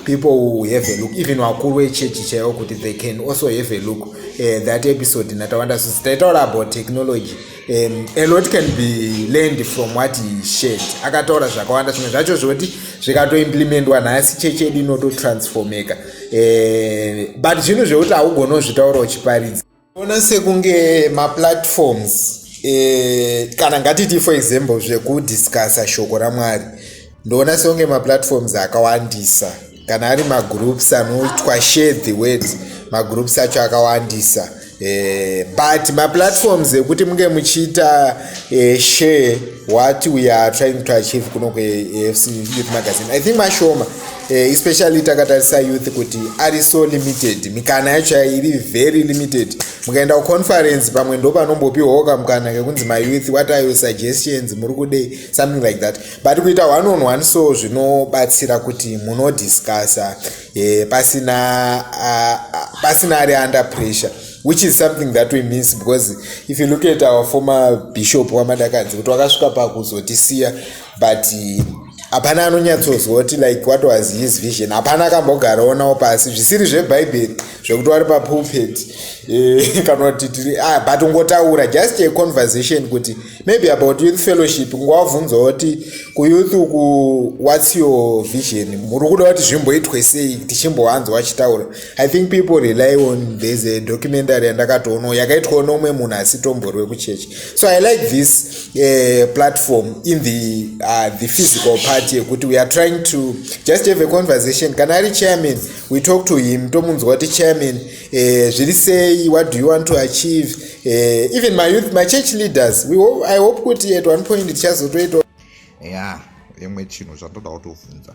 people who have a look even vakuru vechechi chaivo kuti they can also have a look uh, that episode natawanda zuzi taitaura about technology um, a lot can be learned from what he shared akataura zvakawanda zvimwe zvacho zvoti zvikatoimplementwa nhasi chechi yedu inototransformeka uh, but zvinhu zvekuti haugona kuzvitaura uchiparidza ona sekunge maplatforms eh, kana ngatiti for example zvekudiscussa shoko ramwari ndoona sekunge maplatforms akawandisa kana ari magroups anoitwa share the word magroups acho akawandisa eh, but maplatforms ekuti munge muchiita eh, share what we are trying to achieve kuno kweafc youth magazine i think mashoma eh, especially takatarisa youth kuti ari so limited mikana yacho yairi very limited mukaenda kuconference pamwe ndo panombopiwawo kamukana kekunzi mayouth what are your suggestions muri kudei something like that but kuita one on one so zvinobatsira kuti munodiscussa eh, pasina uh, uh, pasina ari under pressure which is something that we miss because if you look at our former bishop wamadakadzi kuti wakasvika pakuzotisiya but hapana anonyatsonzwa kuti like what was his vision hapana akambogaroonawo pasi zvisiri zvebhaibheri zvekuti wari papulpet eh, kana kuti tiri ah, but ungotaura just a conversation kuti maybe about youth fellowship ngowabvunzawo kuti kuyouth uku whats your vision muri kuda kuti zvimboitwe sei tichimbowanzwa achitaura i think people rely on there's a documentary yandakatoonawo yakaitwawo noumwe munhu asitomborwe kuchechi so i like this uh, platform in the, uh, the physical party yekuti we are trying to just have a conversation kana ari chairman we talk to him tomunzwa kuti chairman uh, zviri sei what do you want to achieve uh, even my youth my church leaders we hope, i hope kuti at one point tichazotoitawo ya yeah, imwe chinhu zvandoda kutovhunza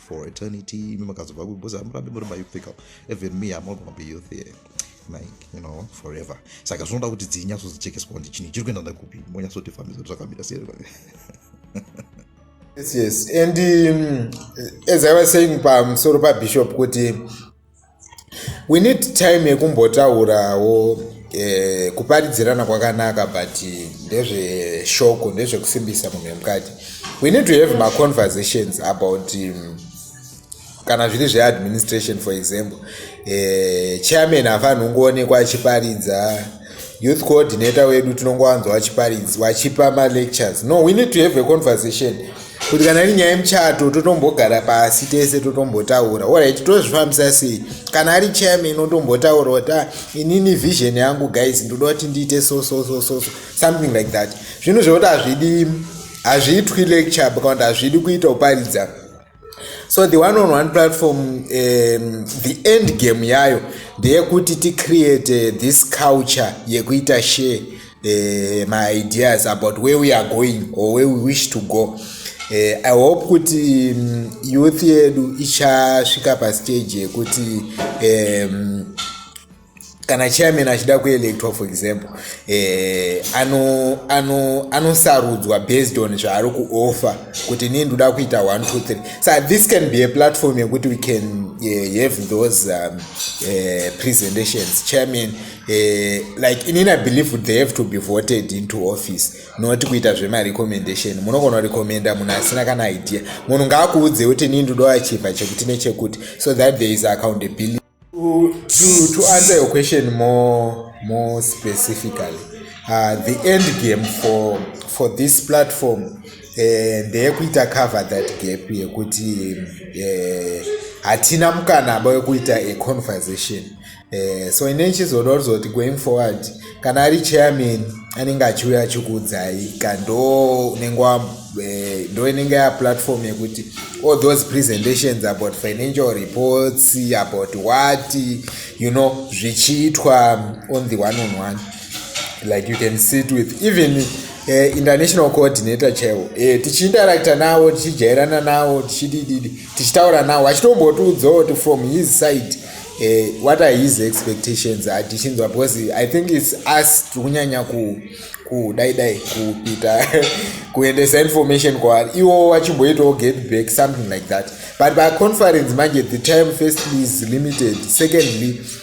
for eternity imi makazobva ku because hamurambi muri mayouthika even me am not gonna be youth here like you know forever saka zvinoda kuti dzinyatsozichekeswa kuti chinhu chiri kuenda ndakupi monyatsotifambisa kuti zvakamira sei yes yes and um, as i was saying pamusoro pabishop kuti we need time yekumbotaurawo eh, kuparidzirana kwakanaka but ndezveshoko ndezvekusimbisa munhu wemukati we need to have maconversations about um, kana zviri zveadministration for example eh, chairman hafanhu ungoonekwa achiparidza youth coordinator wedu tinongowanzwa vachiparidzi vachipa malectures no we need to have a conversation kuti kana iri nyaya yemuchato totombogara pasi tese totombotaura orit tozvifambisa sei kana ari chairman otombotaura kuti ah, inini vision yangu guys ndoda kuti ndiite so so so so something like that zvinhu zvekuti hazvidi hazviitwi lecture kana kuti hazvidi kuita kuparidza so the one on one platform um, the end game yayo ndeyekuti ticreate uh, this culture yekuita share uh, my ideas about where we are going or where we wish to go uh, i hope kuti um, youth yedu ichasvika pastage yekuti um, kana chairman achida kuelectwa for example eh, anosarudzwa ano, ano based on zvaari kuoffer kuti nii ndoda kuita 123 so this can be a platform yekuti we can eh, have those um, eh, presentations chairman eh, like inini i believe they have to be voted into office not kuita zvemarecommendation munogona recommenda munhu asina kana idea munhu ngaakuudze kuti nii ndoda achiva chekuti nechekuti so that there is accountability to, to, to answer your question more, more specifically uh, the end game for, for this platform eh, ndeyekuita cover that gap yekuti eh, hatina mukanaba wekuita a conversation eh, so ine chizoda kuzoti going forward kana ari chairman anenge achiuya achikuudzai ka ndo unenge eh, ndo inenge ya platform yekuti all those presentations about financial reports about what you know zvichiitwa on the one on one like you can sit with even eh, international coordinator chaivo eh, tichiinteracta navo tichijairana navo tichidididi tichitaura nawo achitombotiudzawo kuti from his side eh, what are his expectations atichinzwa because i think its us tiri kunyanya kudai dai kupita kuendesa information kwaari iwo wachimboitawo get back something like that but paconference manje the time firstly is limited secondly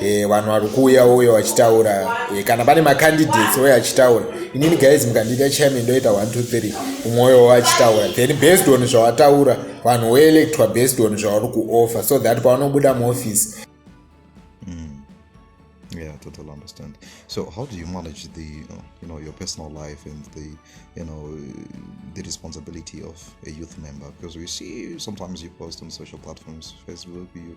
Eh, vanhu vari kuuya uyo vachitaura eh, kana pane macandidates uye achitaura inini guys mukandiita chairman ndoita 123 umwoyo wachitaura then based on zvawataura vanhu woelectwa based on zvavari kuoffer so that pavanobuda muoffice mm. yeah total understand so how do you manage the you know your personal life and the you know the responsibility of a youth member because we see sometimes you post on social platforms facebook you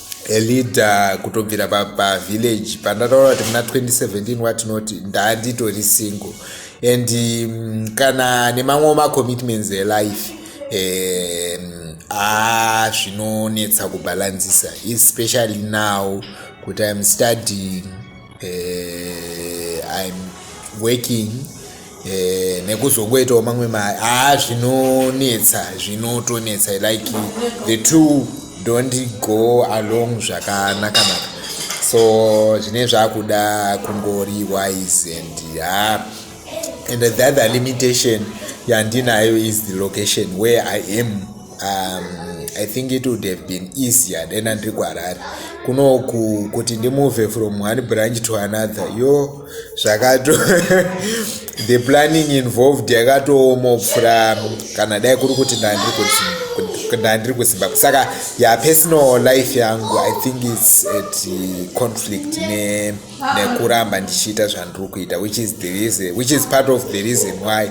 elida kutobvira pavillage pa pandataura kuti muna 2017 watinoti ndanditori single and um, kana nemamwe macommitments elife um, a ah, zvinonetsa kubalanzisa especially now kuti im studying uh, im working uh, nekuzongoitawo mamwe mari haa zvinonetsa zvinotonetsa like the two don't go along zvakanakanaka so zvine zvakuda kungori wise and haa uh, and the other limitation yandinayo is the location where i am um, i think it would have been easier dena ndiri kuharare kunoku kuti ndimove from one branch to another yo zvakato the planning involved yakatooma kupfura kana dai kuri kuti ndandiri ndandiri kuzimbabwe saka ya personal life yangu i think its at conflict ne yeah, nekuramba ndichiita zvandiri kuita which is the reason which is part of the reason why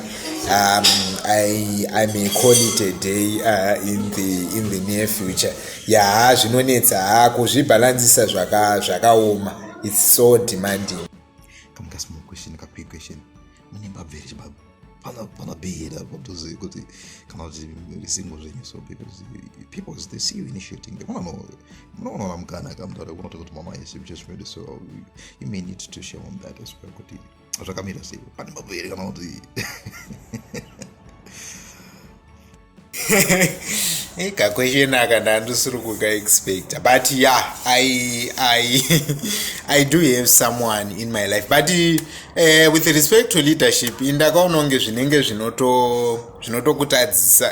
um, I, i may call it a day uh, in, the, in the near future yaha zvinonetsa ha kuzvibhalansisa zvakaoma zvaka it's so demanding mune mbabvu here chibaba pana pana bhei here apo tozivi kuti kana kuti risingo zvenyu so because people they see you initiating they wanna know munoona ona mukana akamutaura kunoti kuti mama yes you just made so you may need to share on that as well kuti zvakamira sei pane mbabvu here kana kuti hey, kakwesheni aka ndandisiri kukaexpecta but ya yeah, I, I, i do have someone in my life but uh, with respect to leadership indakaona kunge zvinenge zvinotokutadzisa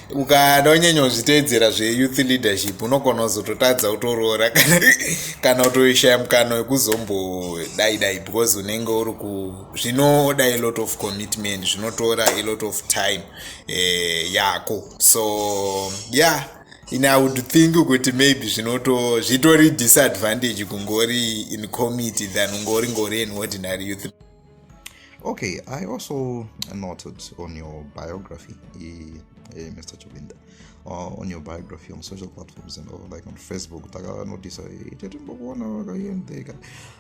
ukada unyanya uzviteedzera zveyouth leadership unogona kuzototadza kutoroora kana kutoishaya mukana wekuzombodaidai because unenge uri ku zvinoda a lot of commitment zvinotora a lot of time eh, yako so yeah in i would think kuti maybe zvinoto zvitori disadvantage kungori in committee than ungori ngori an ordinary youth okay i also noted on your biography uh, uh, mr chobinda uh, on your biography on social platforms and all, like on facebook takanotice itetimbokuona vakaendeka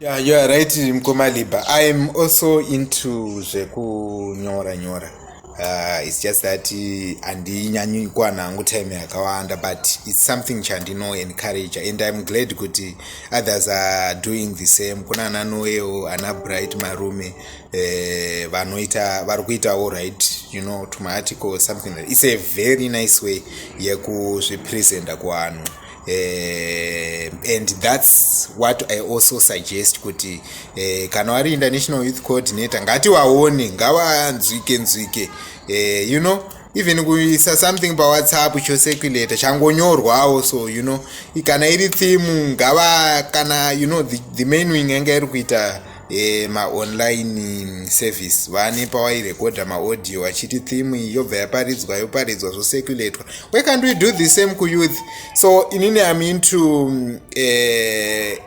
Yeah, you are right mkoma liba i am also into zvekunyora nyora uh, its just that uh, handinyanyi uh, kuwana hangu time yakawanda but its something chandino encourage and im glad kuti others are doing the same kuna ana noeo ana bright marume uh, vanoita uh, vari kuitawo right you know to my article something like its a very nice way yekuzvipresenta kuvanhu Uh, and that's what i also suggest kuti uh, kana wari international youth coordinator ngatiwaone ngavanzwike nzwike uh, you know even kuisa something pawhatsapp choseculator changonyorwawo so you know kana iri theme ngava kana you know the, the main wing yanga iri kuita e, maonline mm, service vane pawairekodha maaudio achiti theme iyi yobva yaparidzwa yoparidzwa zvosekuletwa we can't we do the same kuyouth so inini am into mm, eh,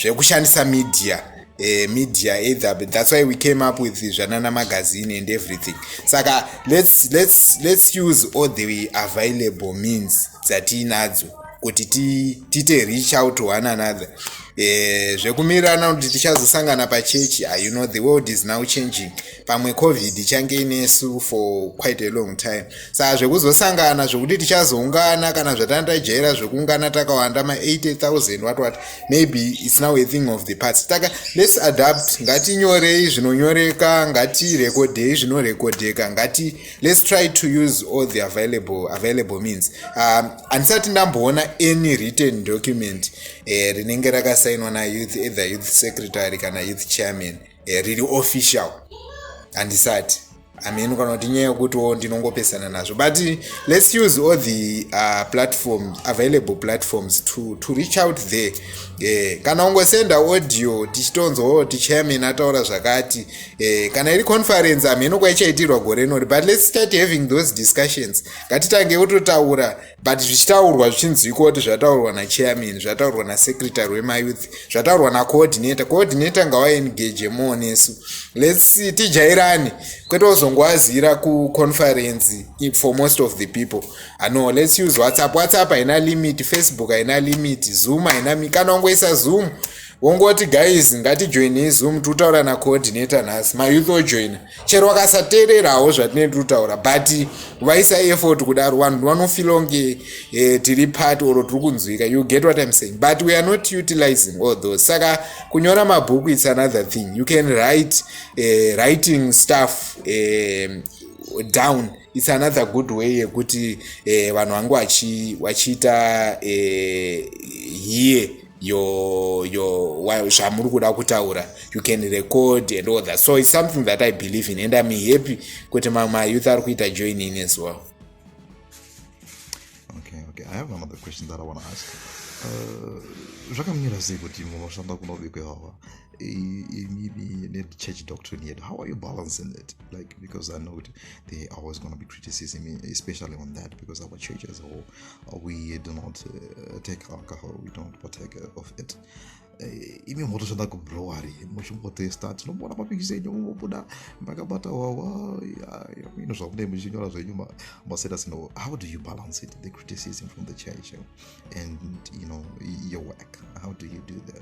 zvekushandisa zve media Uh, media either but that's why we came up with zvanana magazine and everything saka let's, let's, let's use all the available means dzatiinadzo kuti tiite ti reach out to one another ti Eh, zvekumirana kuti tichazosangana pachechi ah, you know the world is now changing pamwe covid ichange inesu for quite a long time saa zvekuzosangana zvekuti tichazoungana kana zvatandajaira zvekuungana takawanda ma80000 what what maybe its now a thing of the parts taka let's adapt ngatinyorei zvinonyoreka ngatirekodhei zvinorekodheka ngati let's try to use all the available available means um, handisati ndamboona any written document eh, rinenge uh, rakasainwa nayouth either youth secretary kana youth chairman uh, riri official handisati amen kana kuti nyaya yekutiwo ndinongopesana nazvo but let's use all the uh, platforms available platforms to, to reach out there yeah. kana ungosenda audio tichitonzwa kuti chairman ataura zvakati Eh, kana iri conference hamheno kwaichaitirwa gore inori but let's start having those discussions ngatitange kutotaura but zvichitaurwa zvichinzwikwa kuti zvataurwa nachairman zvataurwa nasecretary wemayouth zvataurwa nacoordinator coordinator ngawaengage more nesu let's tijairane kwete uzongowazira kuconference for most of the people ano ah, let's use whatsapp whatsapp haina limit facebook haina limit zoom haina kana ungoisa zoom wongoti guys ngatijoinei zoom tiri kutaura nacoordinator nhasi mayouth ojoina chero wakasateererawo zvatinee tiri kutaura but vaisa effort kudaro vanhu vanofila kunge eh, tiri part or tiri kunzwika you get what im saying but we are not utilizing all those saka kunyora mabhuku its another thing you can write eh, writing stuff eh, down its another good way yekuti eh, vanhu vangu vachiita eh, here your your zvamuri kuda kutaura you can record and all that so it's something that i believe in and i'm happy kuti mamwe mayouth ari kuita join in as well okay okay i have another question that i want to ask uh, zvakamira sei kuti munoshanda kunobikwa ivava nechurch doctrine yedu how are you balancing it like because i know there are always going to be criticism especially on that because our church as a whole we do not uh, take alcohol we don't partake of it eh, imi motoshanda kubrowery muchimbotesta tinombona mapikisi enyu mumobuda makabata wawa ino zvamunei muchinyora zvenyu masetas no how do you balance it the criticism from the church and you know your work how do you do that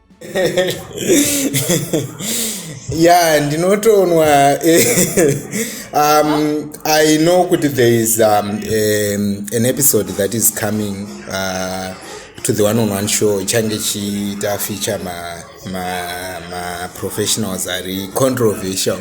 ya ndinotonwa um, i know kuti there is um, um, an episode that is coming uh, to the one on one show ichange chiita feature maprofessionals ma, ma ari controversial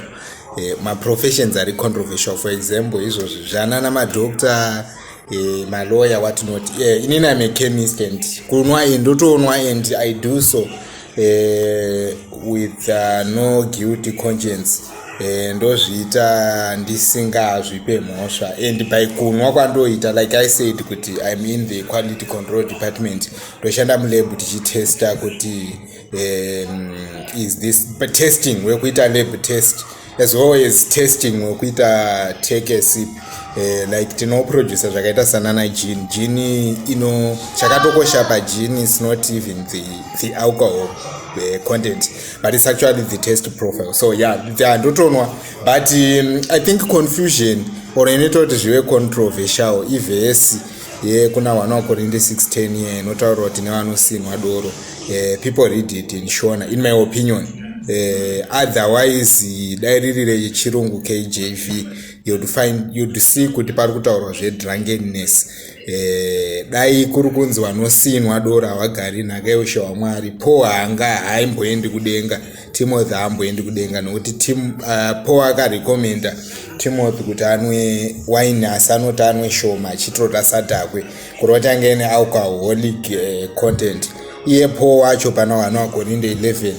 eh, maprofessions ari controversial for example izvozvi zvanana madoctor Eh, maloya watinoti e eh, inini im achemist and kunwa and ndotonwa and i do so eh, with uh, no guilty conscience eh, ndozviita ndisingazvipe mhosva and by kunwa kwandoita like i said kuti im in the quality control department ndoshanda mulab tichitesta kuti um, is this testing wekuita lab test as well as testing wekuita tekesip Eh, like tinoproducer zvakaita sanana jini jini ino chakatokosha pajini is not even the, the alcohol the eh, content but it's actually the test profile so yeah ndotonwa but um, i think confusion or inoita kuti zvive controversial ivhesi yekuna wana wakorinde 610 ye inotaurwa kuti nevanosinwa doro uh, people read it in shona in my opinion uh, otherwise dai riri rechirungu kjv you'd find you'd see kuti pari kutaurwa zvedrunkedness eh, dai kuri kunzi vanosinwa dora havagari nhaka yoshe wamwari po haanga haimboendi kudenga timothy haamboendi kudenga nokuti tim, uh, eh, po akarekomenda timothy kuti anwe wine asi anoti anwe shoma achitota sadhakwe kuri vatange nealcoholic eh, content iye po wacho pana wana wakorindo 11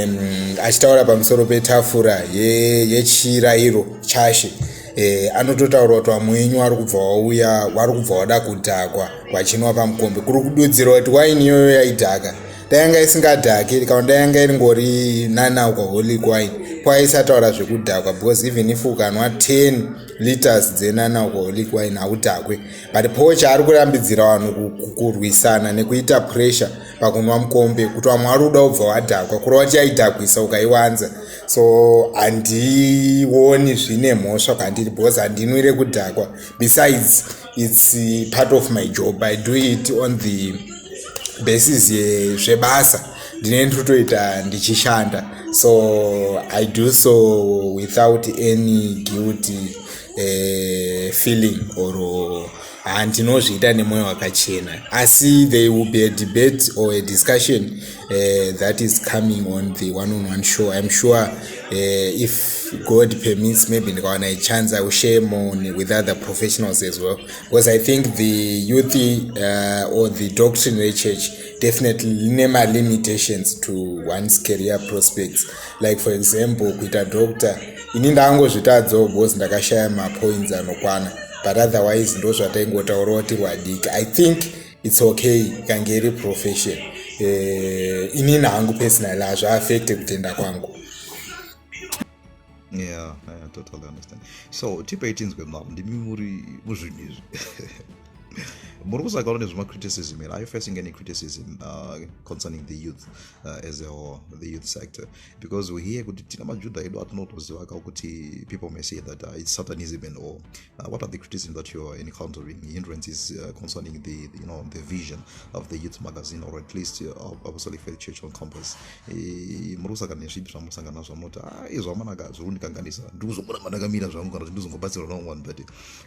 um, achitaura pamusoro petafura yechira ye iro chashe eh, anototaura kuti vamwe wenyu wari kubva wauya wari kubva wada kudhakwa vachinwa pamukombe kuri kududzirwa kuti waini iyoyo yaidhaka dayanga isingadhaki rikawa dayanga iri ngori nanaukaholic wine kwaisataura zvekudhakwa because even if ukanwa 10 liters dzenanalcoholic wine haudhakwe but po chaari kurambidzira vanhu kurwisana nekuita pressure pakunwa mukombe kuti vamwe vari kuda kubva wadhakwa kurova tiyaidhakwisa ukaiwanza so handioni zvine mhosva kwandiri because handinwire kudhakwa besides its uh, part of my job i do it on the basis yezvebasa ndine ndotoita ndichishanda so i do so without any guilty uh, feeling or handinozviita nemwoyo wakachena asi they will be a debate or a discussion uh, that is coming on the one on one show i'm sure uh, if god permits maybe ndikawana a chance i will share more with other professionals as well because i think the youth uh, or the doctrine rechurch definitely line malimitations to one's career prospects like for example kuita doctor ini ndangozvitadzawo because ndakashaya mapoints anokwana but otherwise ndozvataingotaurawo tiri vadiki i think its okay ikange iri profession eh, inini hangu personal hazviafekte kutenda kwangu yeah, yeah, totally understand so tipei tinzwe mavo ndimi muri muzvinhu izvi muri kusagara nezvemacriticism here are you facing any criticism uh, concerning the youth uh, as a whole the youth sector because we hear kuti tina majudha edu atinotoziva ka kuti people may say that uh, it's satanism and all Uh, what are the criticism that you are encountering, hindrances uh, concerning the, the, you know the vision of the youth magazine or at least uh, Apostolic Faith Church on Campus? Eh, muri kusangana nezvipi zvamusangana nazvo munoti ah, izvo amanaka zviri kundikanganisa ndiri kuzomona mandakamira zvangu kana kuti ndiri kuzongobatsirwa naumwe vanhu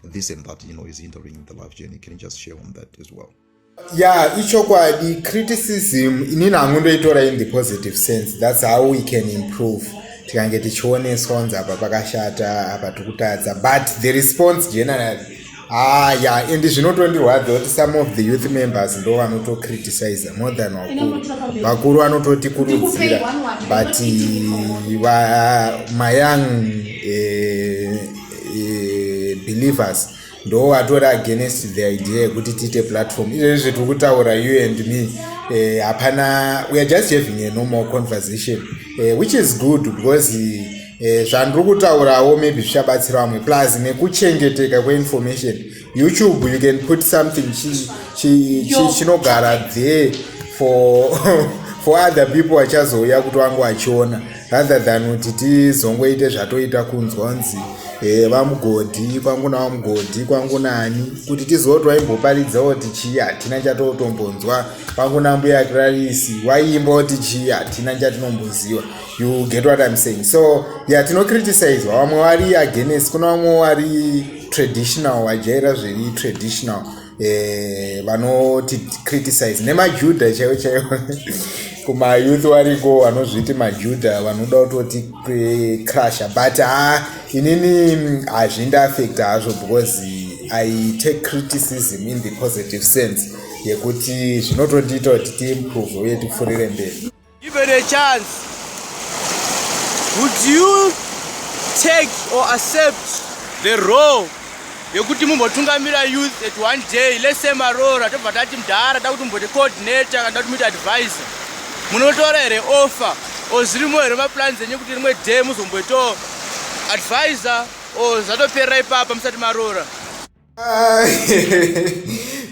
but this and that you know is hindering the life journey can you just share on that as well ya ichokwadi criticism inini hangu ndoitora in the positive sense thats how we can improve tikange tichioneswa kunzi apa pakashata apa tikutadza but the response generally ah ya and zvinotondirwadza kuti some of the youth members ndo vanotocriticize more than vakuru vakuru vanototikurudzira but mayoung eh, eh, believers ndo vatori against the idea yekuti tiite platform izvezvi zvetiri kutaura you and me eh, hapana uh, weare just having a normal conversation uh, which is good because eh, zvandiri uh, kutaurawo maybe zvichabatsira vamwe plus nekuchengeteka kweinformation youtube you can put something chinogara chi, chi, chi, there for for other people vachazouya kuti vangu vachiona rather than kuti tizongoite zvatoita kunzwa nzi eh, vamugodhi kwangu navamugodhi kwangu nani kuti tizoti waimboparidza oti chii hatina chatotombonzwa kwangu nambuya krarisi waiimba oti chii hatina chatinomboziva you get what im saying so ya tinocriticizwa vamwe vari agenesi kuna vamwe vari traditional wajaira zviri traditional eh, vanoti e, criticize nemajudha chaivo chaivo kumayouth variko vanozviti majudha vanoda kutoti eh, crusher but ha ah, inini mm, hazvindiaffect hazvo because i take criticism in the positive sense yekuti zvinotondiita kuti tiimprove uye tipfurire mberi Given a chance, would you take or accept the role yekuti mumbotungamira youth at one day let's say maroora tobva tati mdhara da kuti mumbote coordinator kana kuti muite advisor munotora here offer or zvirimo here maplans enyu kuti rimwe day muzomboitawo advisor or zvatoperera ipapa musati maroora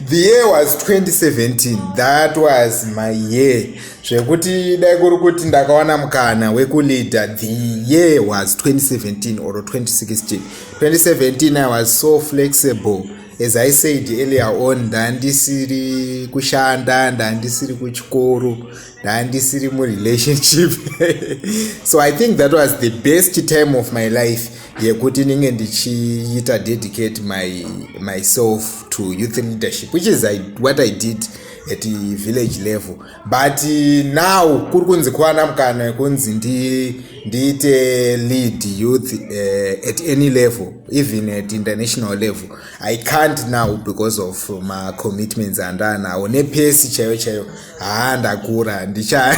the year was 2017 that was my year zvekuti dai kuri kuti ndakawana mukana wekuleader the year was 2017 or 2016 2017 i was so flexible as i said earlier on ndandisiri kushanda ndandisiri kuchikoro ndandisiri murelationship so i think that was the best time of my life yekuti ndinge ndichiita dedicate my myself to youth leadership which is I, what i did at the village level but now kuri kunzi kwana mukana yekunzi ndiite lead youth uh, at any level even at international level i can't now because of macommitments andanawo nepesi chaiyo chaiyo haa ndakura handicha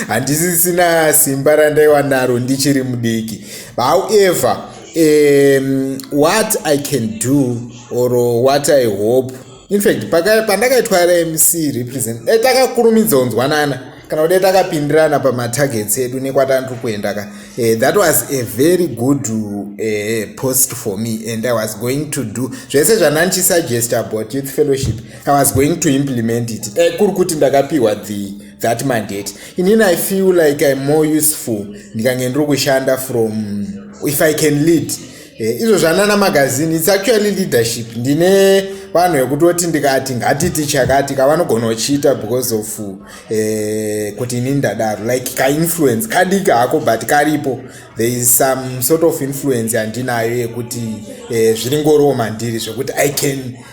handisisina simba randaiwa naro ndichiri mudiki however um, what i can do or what i hope infact pandakaitwa rmc represent dai takakurumidza kunzwanana kana kudai takapindirana pamatargets edu nekwatandiri kuenda ka eh, that was a very good uh, post for me and i was going to do zvese zvanandichisuggest about youth fellowship i was going to implement it e, kuri kuti ndakapiwa the that mandate inini i feel like im more useful ndikange ndiri kushanda from if i can lead e, izvo zvanana magazine its actually leadership ndine vanhu vekutoti ndikati ngatiti chakati kavanogona kuchiita because of eh, kuti ini ndadaro like kainfluence kadiki hako but karipo there is some sort of influence yandinayo yekuti eh, zviri ngoroma ndiri zvekuti i can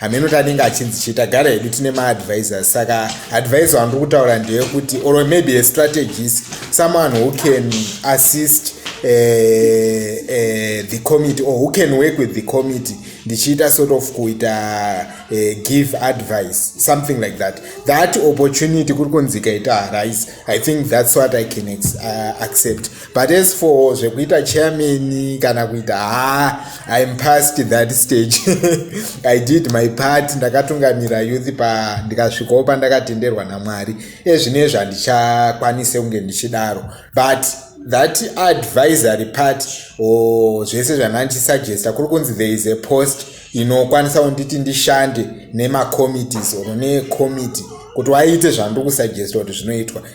hameno tanenge achinzi chii tagara hedu tine maadvisors saka advisor wandiri kutaura ndeyekuti or maybe a strategist someone who can assist uh, uh, the committee or who can work with the committee ndichiita sort of kuita uh, give advice something like that that opportunity kuri kunzi ikaita arise i think that's what i can ex, uh, accept but as for zvekuita chairman kana kuita ha ah, im past that stage i did my part ndakatungamira youth pa ndikasvikawo pandakatenderwa namwari ezvino ezvo handichakwanise kunge ndichidaro but that advisory part or zvese zvanandisuggesta kuri kunzi there is a post inokwanisa kunditi ndishande nemacommittees or necommittee kuti waite zvandiri kusuggesta kuti zvinoitwa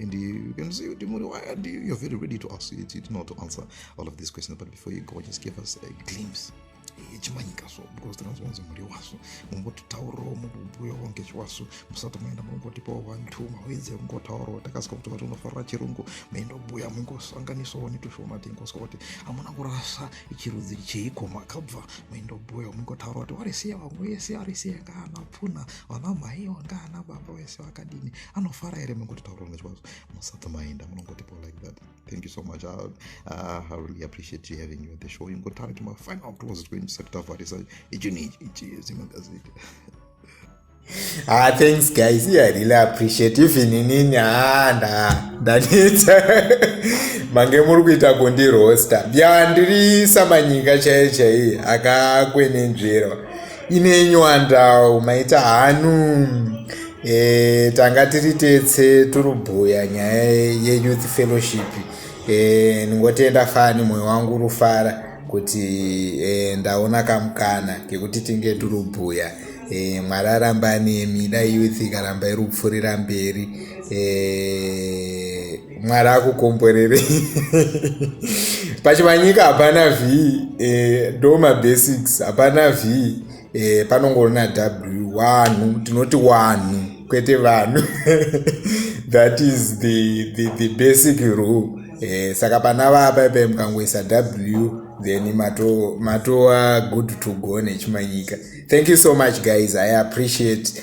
and you, you can see the money why and you, you're very ready to ask you, you know to answer all of these questions but before you go just give us a glimpse yechimanyika so because tinazonzi mhuri wasu mumbototaurawo mukubhuyawo ngechiwasu musati maenda mungotipawo vantuma wedze mungotaurawo takasika kuti vati unofarira chirungu maenda kubhuya mungosanganisawo netushoma tingoswa kuti hamuna kurasa chirudzi cheiko makabva maenda kubhuya mungotaura kuti warisiya vamwe wese arisiya ngaana pfuna vana mhai wanga ana baba wese vakadini anofara here mangoti taura nezvazvo musati maenda munongotipo like that thank you so much I, uh, ah, i really appreciate you having you at the show ingotara kuti mafinal close twenty tisati tavharisa ichini ichi ichi zimagazeti Ah, thanks guys. Yeah, I really appreciate even inini ah nda ndanetsa mange muri kuita kundirosta. Bya ndiri samanyinga chaiye chaiye akakwenenzverwa. ine nywandawo maita hanu e, tanga tiri tetse turubhuya nyaya yeyouth fellowship e, ndingotenda fani mwoyo wangu urufara kuti e, ndaona kamukana kekuti tinge turubhuya e, mwari arambani mida youth ikaramba irupfurira mberi e, mwari akukomborerei pachivanyika hapana v eh, ndoma basics hapana v eh, panongorina w wanhu tinoti wanhu kwete vanhu that is the, the, the basic rule eh, saka pana vapa ipai mukangoisa w then matova mato good to go nechimanyika thank you so much guys i appreciate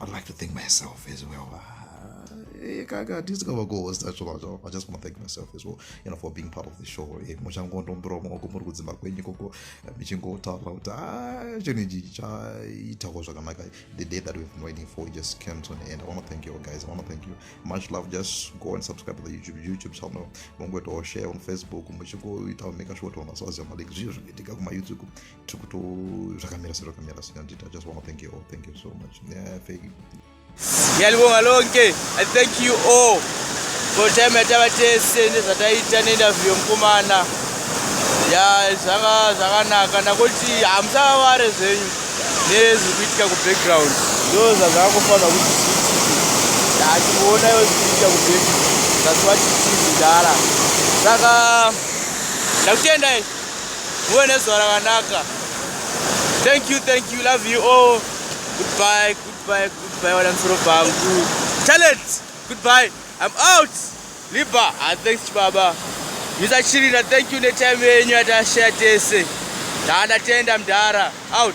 I'd like to thank myself as well. Kaka, ah, this cover goal was natural at all. I just want to thank myself as well, you know, for being part of the show. Eh, muchangondombirawo maoko muri kudzimba kwenyu ikoko eh, michingotaura kuti ah, chinhu ichi chaitawo zvakanaka. The day that we've been waiting for just came to an end. I want to thank you all guys. I want to thank you. Much love. Just go and subscribe to the YouTube YouTube channel. Mungoitawo share on Facebook. Muchingoitawo make sure kuti vanhu vasaziva malinks zviyo zvinoitika kuma YouTube. tikuto zvakamira sezvakamira sinandita just want to thank you all thank you so much yeah, thank you ndiyalibonga lonke i thank you all for time yatava tese nezvataita neinterview yomukomana ya zvanga zvakanaka nakuti hamusavavare zvenyu nezviri kuitika kubackground ndo zvazvakangofanira kuti zviitike hatikuona yo zviri kuitika kubackground zvazivati tizi dara saka ndakutendai muve nezuva rakanaka thank you thank you love you all goodbye goodbye goodbye wana musoro pangu talent goodbye i'm out liba ah, thanks baba misa chirina thank you netime yenyu yatashaya tese ndatenda mdhara out